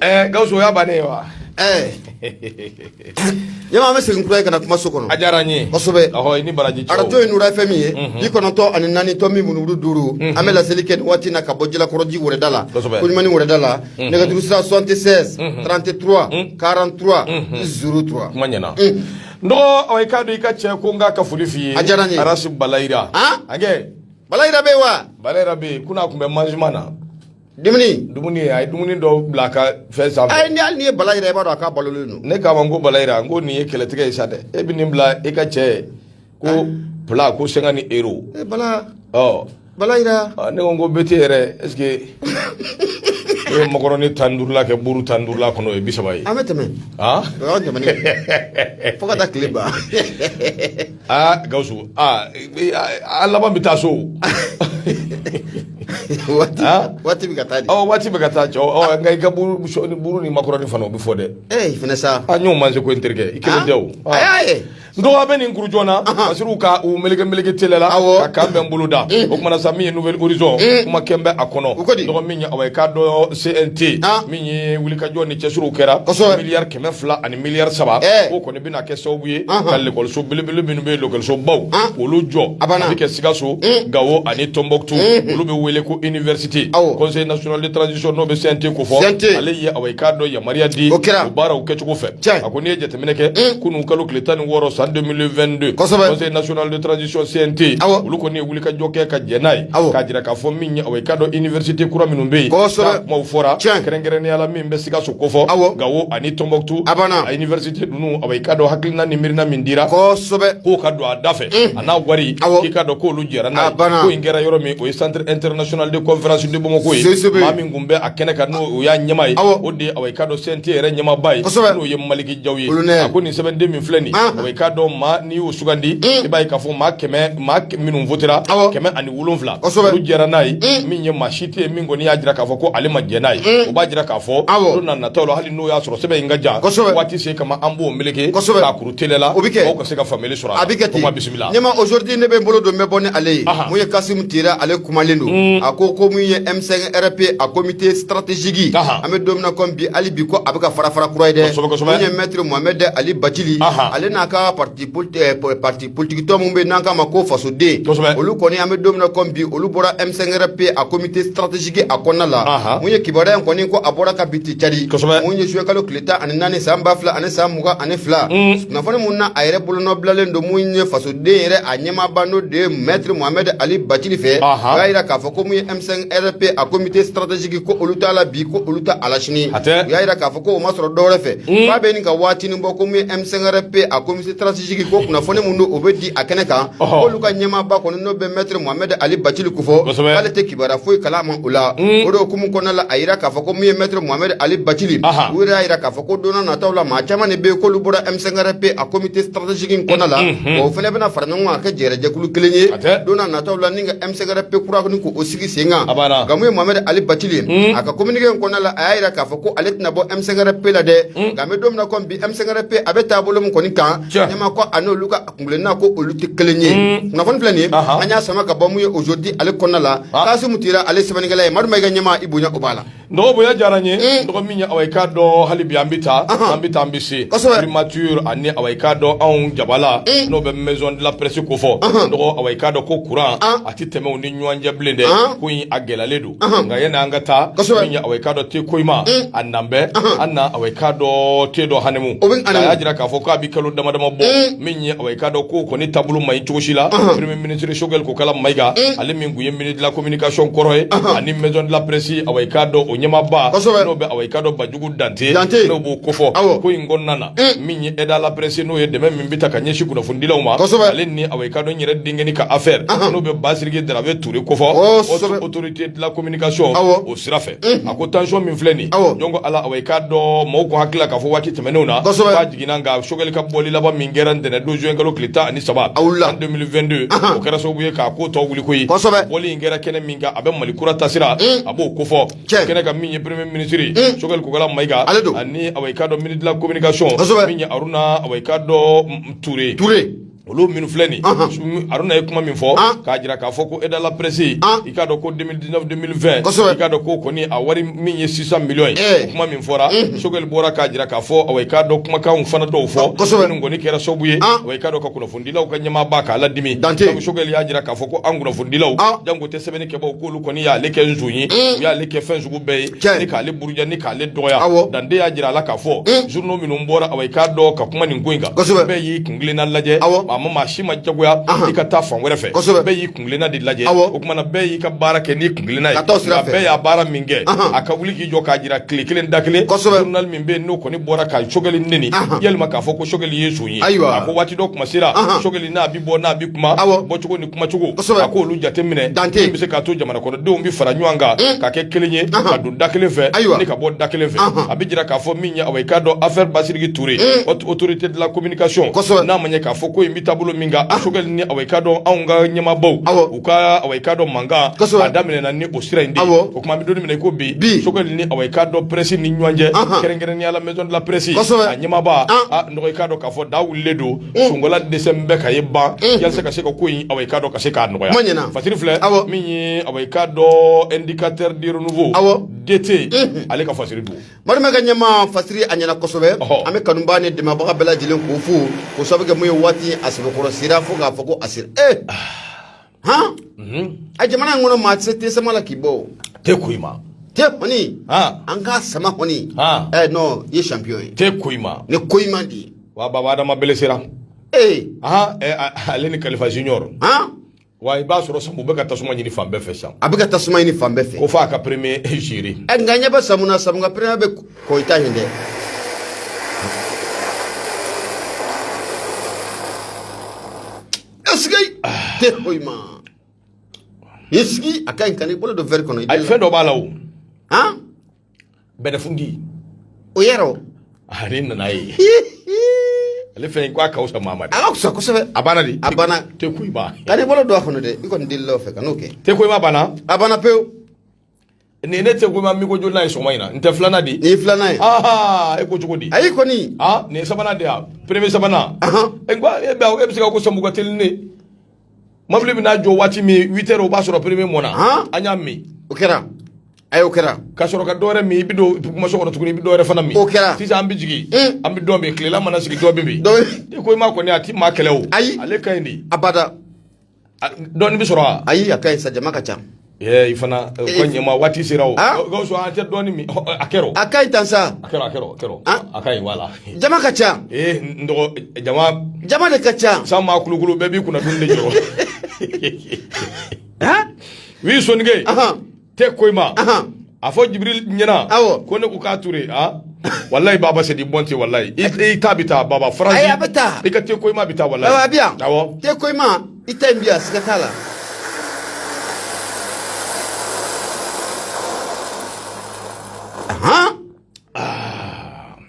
Eh, gawusu o y'a bannen ye wa eh. jama an bɛ segin kura ye ka na kuma so kɔnɔ a diyara n ye kosɛbɛ ɔhɔ i ni baraji cɛw arajo ye nura fm ye mhm. bi kɔnɔntɔn ani naani tomi murumuru duuru mhm. an bɛ laseli kɛ nin waati na ka bɔ jalakɔrɔji wɛrɛda la koɲumani wɛrɛda la mhm. nɛgɛjuru sira 76 33 43 03 kuma ɲɛna dɔgɔ awa i k'a dɔn i ka cɛ ko n k'a ka foli f'i ye a diyara n ye arasi balayira an ka balayira bɛ yen wa balayira bɛ yen kunun a tun bɛ mangement na dumuni dumuni a ye dumuni dɔ bila a ka fɛn sanfɛ ayi ni hali n'i ye balayira i b'a dɔn a ka balolen don ne k'a ma n ko balayira n ko nin ye kɛlɛtigɛ ye sa dɛ e bɛ nin bila e ka cɛ ko plat ko cinquante euros bala ɔ Balayira ne ko bɛ tɛ yɛrɛ est-ce que e ye makɔrɔni tan ni duuru la kɛ buuru tan ni duuru la kɔnɔ ye bi saba ye an bɛ tɛmɛ fo ka taa tile ban Gawusu a laban an bɛ taa so waati bɛ ka taa dɛ waati bɛ ka taa nka i ka buuru ni makɔrɔni fana o bɛ fɔ dɛ sa ɲɔgɔn ma se ko n terikɛ i kelen tɛ n dɔgɔ an bɛ nin kuru joona a siri u ka u meleke meleke teliya la ka an b'an bolo da o kuma na sa min ye nouvel horizon kumakan bɛ a kɔnɔ n dɔgɔ min ye awa i k'a dɔn CNT min ye wulikajɔ ni cɛsiriw kɛra miliyari kɛmɛ fila ani miliyari saba o kɔni bɛna kɛ sababu ye ka lekɔliso belebele minnu bɛ yen lekɔliso baw k'olu jɔ a bɛ kɛ Sikaso Gawo ani Tɔnbɔkutu olu bɛ wele ko université conseil national de transition n'o bɛ CNT kofɔ ale ye awa i k'a dɔn yamaruya di o baaraw kɛcogo fɛ a ko n'i ye jate Kɛ kunun kalo tile tan ni wɔɔrɔ san den2 kɔsɔ nacolisisɛte olu kɔni wuli ka jɔ kɛ ka jɛn n'a ye aw k'a jira k'a fɔ min o ka dɔn iisite kura minnu bɛ yen maaw fɔra kɛrɛnkɛrɛnya la min bɛ se ka so kofɔ aw nka o ani tɔnonbato a aisite ninnu a i ka don hakiina ni miiriina min dira kosɛbɛ k'o ka don a da fɛ a n'a wari aw ka dɔn k'olu jɛra n'a banna in kɛra yɔrɔ min o ye santere ntrsonali kɔnfɛsibagaw ko ye min N bɛ a kɛnɛ kan n'o y'a ɲɛmaa ye o de awa i k'a dɔn CNT yɛrɛ ɲɛmaaba ye n'o ye maliki jaw ye a ko nin sɛbɛnden min filɛ nin awa i k'a dɔn maa minnu y'o sugandi i b'a ye k'a fɔ maa kɛmɛ maa minnu wotera kɛmɛ ani wolo wolonwula jɛra n'a ye min ye maa si tɛ yen min kɔni y'a jira k'a fɔ ko ale ma jɛn n'a ye o b'a jira k'a fɔ don nataw la hali n'o y'a sɔrɔ sɛbɛn in ka jan waati se kama an b'o mele Kɛlɛla o bɛ kɛ ka se ka faamuyali sɔrɔ a bɛ kɛ kuma bisimila ɲama Aujourd'hui ne bɛ n bolo don bɛ bɔ ni ale ye min ye Kasimu Tɛra ale kumalen don a ko ko min ye M5 RP a komite strategiki an bɛ don min na komi bi hali bi ko a bɛ ka fara fara kura ye dɛ min ye mɛtiri Muhamɛd Ali Bacili ale n'a ka parti politiki tɔn min bɛ n'an k'a ma ko fasoden olu kɔni an bɛ don min na komi bi olu bɔra M5 RP a komite strategiki a kɔnɔna la min ye kibaruya in kɔni ko a bɔra kabi ca min ye juin kalo tile ani naani san ba fila ani san mugan ani fila kunnafoni min na a yɛrɛ bolonɔbilalen don min ye fasoden yɛrɛ a ɲɛmaaba n'o de ye mɛtiri muhamɛd ali bacili fɛ o y'a jira k'a fɔ ko min ye m5 rp a komite strategiki ko olu t'a la bi ko olu t'a la sini u y'a jira k'a fɔ ko o ma sɔrɔ dɔwɛrɛ fɛ k'a bɛ ɲini ka waatinin bɔ ko min ye m5 rp a komite jigi ko kunnafoni min don o bɛ di a kɛnɛ kan olu ka ɲɛmaaba kɔni n'o bɛ mɛtiri muhamɛdi ali bacili kofɔ k'ale tɛ kibaruya foyi kalama o la o de hukumu kɔnɔna la a yira k'a fɔ ko min ye mɛtiri muhamɛdi ali bacili u yɛrɛ y'a yira k'a fɔ ko don nataw la maa caman de bɛ yen k'olu bɔra M5 RP a komite strategiki in kɔnɔna la o fana bɛna fara ɲɔgɔn kan ka kɛ jɛrɛ jɛkulu kelen ye don nataw la ni ka M5 RP kura kɔni k'o sigi sen kan nka min ye muhamɛdi ali bacili a ka kominike in kɔnɔna la a y'a yira k'a fɔ ko ale tɛna bɔ M5 RP la dɛ nka an bɛ don min na ko bi M5 RP a bɛ taabolo min kɔni kan ɲama ko a n'olu ka kuntilenna ko olu tɛ kelen ye kunnafoni filɛ nin an y'a sama ka bɔ min ye Aujourd'hui ale kɔnɔna la Kasimu Tɛra ale sɛbɛnkɛla ye Madu Mayiga ɲɛmaa i bonya o b'a la n dɔgɔ bonya diyara n ye n dɔgɔ min ye aw i k'a dɔn hali bi an bɛ taa an bɛ taa an bɛ se primature ani aw i k'a dɔn anw jabala n'o bɛ maison de la presse kofɔ n dɔgɔ aw i k'a dɔn ko kuran a tɛ tɛmɛ u ni ɲɔgɔn cɛ bilen dɛ koyi a gɛlɛyalen don nka yanni an ka taa min ye aw k'a dɔn te koyima mm. a nan bɛ an na aw k'a dɔn te dɔ hamimu a y'a jira k'a fɔ k'a bɛ kalo dama dama bɔ mm. min ye aw k'a dɔn ko kɔni taabolo ma ɲi cogosi la premier ministre Choguel Kokala Maïga mm. ale min tun ye ministre de la communication kɔrɔ ye ani maison de la presse aw k'a dɔn o ɲɛmaaba n'o bɛ aw k'a dɔn Bandiougou Danté n'o b'o kofɔ ko in kɔnɔna na min ye aide à la presse n'o ye dɛmɛ min bɛ ta ka ɲɛsin kunnafonidilaw ma ale ni aw k'a dɔn yɛrɛ denkɛni ka affaire n'o bɛ basiriki darabe Ture kofɔ kosɛbɛ autorité de la communication awɔ o sira fɛ unhun a ko tension min filɛ nin ye awɔ jɔn ko Ala awɔ i k'a dɔn mɔɔw kun hakili la k'a fɔ waati tɛmɛnenw na kosɛbɛ k'a jiginna nka Choguel ka bɔli laban min kɛra ntɛnɛn don juin kalo tile 13 a wulila en 2022 anhan o kɛra sababu ye k'a ko tɔ wuli koyi kosɛbɛ bɔli in kɛra kɛnɛ min kan a bɛ Mali kura taasira un a b'o kofɔ tiɲɛ kɛnɛ kan min ye premier ministre ye un Choguel Kokala Maïga ale don ani awɔ i k'a dɔn ministre de la communication kosɛbɛ min ye Haruna awɔ i k'a dɔn Ture Ture Olu minnu filɛ nin ye Aruna ye kuma min fɔ k'a jira k'a fɔ ko aide à la presse i k'a dɔn ko 2019 2020 kosɛbɛ i k'a dɔn k'o kɔni a wari min ye 600 millions ye o kuma min fɔra Choguel bɔra k'a jira k'a fɔ awɔ i k'a dɔn kumakanw fana dɔw fɔ kosɛbɛ minnu kɔni kɛra sababu ye awɔ i k'a dɔn ka kunnafonidilaw ka ɲɛmaaba k'a ladimi Dantɛ ye donc Choguel y'a jira k'a fɔ ko anw kunnafonidilaw janko tɛ sɛbɛnni kɛbaaw k'olu kɔni y'ale kɛ nson ye u y'ale kɛ fɛn sugu bɛɛ ye tiɲɛ ni k'ale buruja ni k'ale dɔgɔya awɔ Dantɛ y'a jira a la k'a fɔ journaux minnu bɔra awɔ i k'a dɔn ka kuma nin ko in kan kosɛbɛ bɛɛ y'i k kelenna lajɛ a ma maa si ma jagoya i ka taa fan wɛrɛ fɛ bɛɛ y'i kunkelenna de lajɛ o tuma na bɛɛ y'i ka baara kɛ n'i kunkelenna ye bɛɛ y'a baara min kɛ a ka wuli k'i jɔ k'a jira tile kelen da kelen journal min bɛ yen n'o kɔni bɔra ka Choguel neni walima k'a fɔ ko Choguel ye nson ye ayiwa a ko waati dɔ kuma sera Choguel n'a bɛ bɔ n'a bɛ kuma bɔ cogo kumacogo a k'olu jateminɛ min bɛ se k'a to jamana kɔnɔ denw bɛ fara ɲɔgɔn kan ka kɛ kelen ye ka don da kelen fɛ ni ka bɔ da kelen fɛ a bɛ jira k'a fɔ min ye awɔ i k'a dɔn affaire Bassidiki Touré Haute Autorité de la Communication n'a ma ɲɛ k'a fɔ ko in bɛ taabolo min kan Choguel ni awɔ i k'a dɔn anw ka ɲɛmaabaw u ka awɔ i k'a dɔn mankan a daminɛna ni o sira in de o tuma an bɛ don min na i ko bi Choguel ni awɔ i k'a dɔn presse ni ɲɔgɔn cɛ kɛrɛnkɛrɛnnenya la Maison de la presse a ɲɛmaaba i k'a dɔn k'a fɔ da wulilen don Mm. sunkola dɛsɛ bɛɛ ka ye ban mm. yasa ka se ka ko in awɔ i k'a dɔn ka se k'a nɔgɔya ɲɛna fasiri filɛ awɔ min ye awɔ i k'a dɔn Indicateur du Renouveau awɔ DT mm-hmm. ale ka fasiri don marima ka ɲɛma fasiri a ɲɛna kosɛbɛ an bɛ kanubaa ni dɛmɛbaga bɛɛ lajɛlen k'u fo k'o sababu kɛ mun ye waati a sɛbɛkɔrɔ sera fo k'a fɔ ko a sera ee eh! ah. han mhm. a jamana in kɔnɔ maa tɛ se thé sama la k'i bɔ o thé Koïma thé kɔni an k'a sama kɔni ɛ non i ye champion ye thé Koïma ni Koïma de ye wa baba Adama bele sera ee ahan ale ni Kalifa Junior han wa i b'a sɔrɔ Sanbu bɛ ka tasuma ɲini fan bɛɛ fɛ sisan a bɛ ka tasuma ɲini fan bɛɛ fɛ ko fɔ a ka premier jiri ɛ nka ɲɛ bɛ Sanbu na Sanbu ka premier bɛ Koyita yen dɛ Est-ce que thé Koïma i sigi a ka ɲi kan'i bolo don verre kɔnɔ a fɛn dɔ b'a la o bɛlɛfundi o yɛrɛ ale nana ye ale fɛn ko a ka wusa Mamadi a ka wusa kosɛbɛ a banna de a banna thé Koïma kan'i bolo don a kɔnɔ dɛ i kɔni delila o fɛ kan'o kɛ thé Koïma banna a banna pewu nin ye thé Koïma minko jolinan ye sɔgɔma in na n tɛ filanan di. nin ye filanan ye. aa e ko cogo di. ayi kɔni. aa nin ye sabanan de ye a premier sabanan. e ko e bɛ e bɛ se ka ko Sanbu ka teli ne. mobili bɛ n'a jɔ waati min huit heures o b'a sɔrɔ premier mɔna. an y'a min. o kɛra. ayi o kɛra. ka sɔrɔ ka dɔwɛrɛ min i bɛ don kumaso kɔnɔ tuguni i bɛ dɔwɛrɛ fana min. o kɛra. sisan an bɛ jigin. an bɛ dɔ min tilela mana sigi dɔ bɛ min. dɔ bɛ min. thé Koïma kɔni a ti maa kɛlɛ o. ayi ale ka ɲi de. abada. dɔɔni bɛ sɔrɔ wa ayi a ka ɲi sa jama ka ca i fana ko ɲɛma waati sera o gawusu an tɛ dɔɔni min a kɛra a ka ɲi tan sa a kɛra a kɛra a kɛra a ka ɲi walayi jama ka ca ee n dɔgɔ jama jama de ka ca san maa kulukulu bɛɛ b'i kunna dumuni de jɔrɔ wi sonike te ko i ma a fɔ jibril ɲɛna ko ne ko k'a ture a walayi baba sedi bɔn tɛ walayi i ta bɛ taa baba faransi a bɛ taa i ka te ko i ma bɛ taa walayi a bɛ yan awɔ te ko i ma i ta in bi yan siga t'a la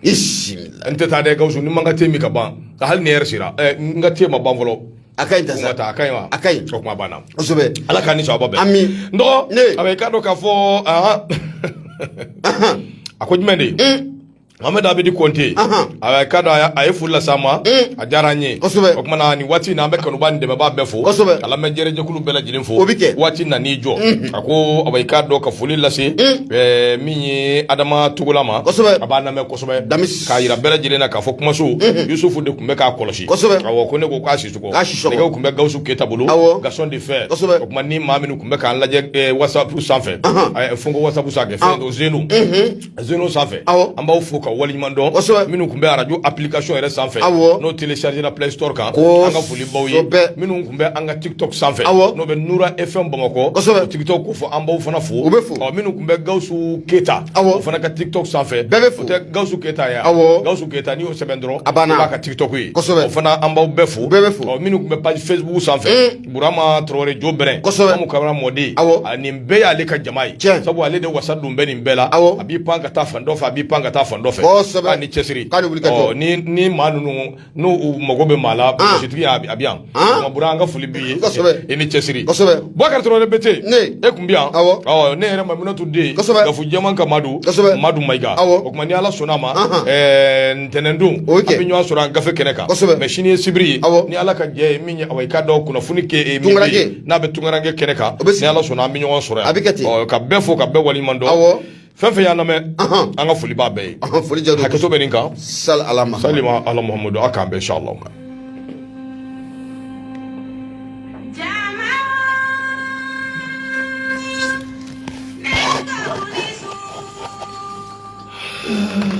i si n tɛ taa dɛ gawusu ni n ma n ka te min ka ban hali ni lɛrɛ sera n ka te ma ban fɔlɔ a ka ɲi tan sa a ka ɲi wa a ka ɲi o kuma banna kosɛbɛ ala k'a ni sawaba bɛn ami n dɔgɔ a bɛ i k'a dɔn k'a fɔ a ko jumɛn de ye mamadu abedi kɔnte A ka dɔn a ye foli lase an ma a diyara an ye o tuma na nin waati in na an bɛ kanuba ni dɛmɛba bɛɛ fo kosɛbɛ a lamɛn jɛrɛjɛkulu bɛɛ lajɛlen fo o bɛ kɛ waati na n'i jɔ a ko a i k'a dɔn ka foli lase min ye adama tugula ma kosɛbɛ a b'an lamɛn kosɛbɛ da k'a jira bɛɛ lajɛlen na k'a fɔ kumaso yusufu de tun bɛ k'a kɔlɔsi kosɛbɛ ko ne ko k'a sisɔkɔ nɛgɛw tun bɛ gawusu keyita bolo gaston de fer o tuma ni maa minnu tun bɛ k'an lajɛ whatsapp sanfɛ a fo ko whatsapp sanfɛ fɛn sen zeno sanfɛ aw an b'aw fo ka waleɲuman dɔn minnu tun bɛ arajo application yɛrɛ sanfɛ aw n'o télécharger la play store kan ko an ka foli b'aw ye bɛɛ minnu tun bɛ an ka tiktok sanfɛ aw n'o bɛ nura fm bamakɔ tiktok ko fɔ an b'aw fana fo u bɛ fɔ ɔ minnu tun bɛ gawusu keyita o fana ka tiktok sanfɛ bɛɛ bɛ tɛ gawusu keyita ye awɔ gawusu keyita n'i y'o sɛbɛn dɔrɔn i b'a ka tiktok ye o fana an b'aw bɛɛ fo bɛɛ bɛ fɔ minnu tun bɛ page facebook sanfɛ Burama Tarawele Jo Bɛrɛn, kosɛbɛ, Umu Kaba mɔden, awɔ, a nin bɛɛ y'ale ka jama ye, tiɲɛ, sabu ale de wasa don bɛ nin bɛɛ la, awɔ, a b'i pan ka taa fan dɔ fɛ, a b'i pan ka taa fan dɔ fɛ, kosɛbɛ, k'a ni cɛsiri, k'a ni wuli ka jɔ, ɔ ni ni maa ninnu n'u u mago bɛ maa la, an, polisitigi y'a a bɛ yan, an, Bura an ka foli b'i ye, kosɛbɛ, i ni cɛsiri, kosɛbɛ, Bubakari Tarawele Bete, ne, e tun bɛ yan, awɔ, ɔ ne yɛrɛ Mayimunatu den, kosɛbɛ, Gafu jɛman ka maa don, kosɛbɛ, Madu Mayiga, awɔ, o tuma ni Ala sɔnn'a ma, anhan, ɛɛ ntɛnɛndon, o ye tiɲɛ ye, an bɛ ɲɔgɔn sɔrɔ yan gafe kɛnɛ kan, kosɛbɛ, mais sini ye sibiri ye, awɔ, ni Ala ka jɛ ye i k'a dɔn kunnafoni kɛnɛ min n'a bɛ tunkaranke kɛnɛ kan ni ala sɔnna an bɛ ɲɔgɔn sɔrɔ a bɛ kɛ ten ka bɛɛ fo ka bɛɛ waliɲuman dɔn awɔ fɛn fɛn y'an lamɛn an ka foli b'a bɛɛ ye foli jara hakɛto bɛ nin kan sali ala ma sali ma ala muhamadu a k'an bɛn inshallah Mm-hmm.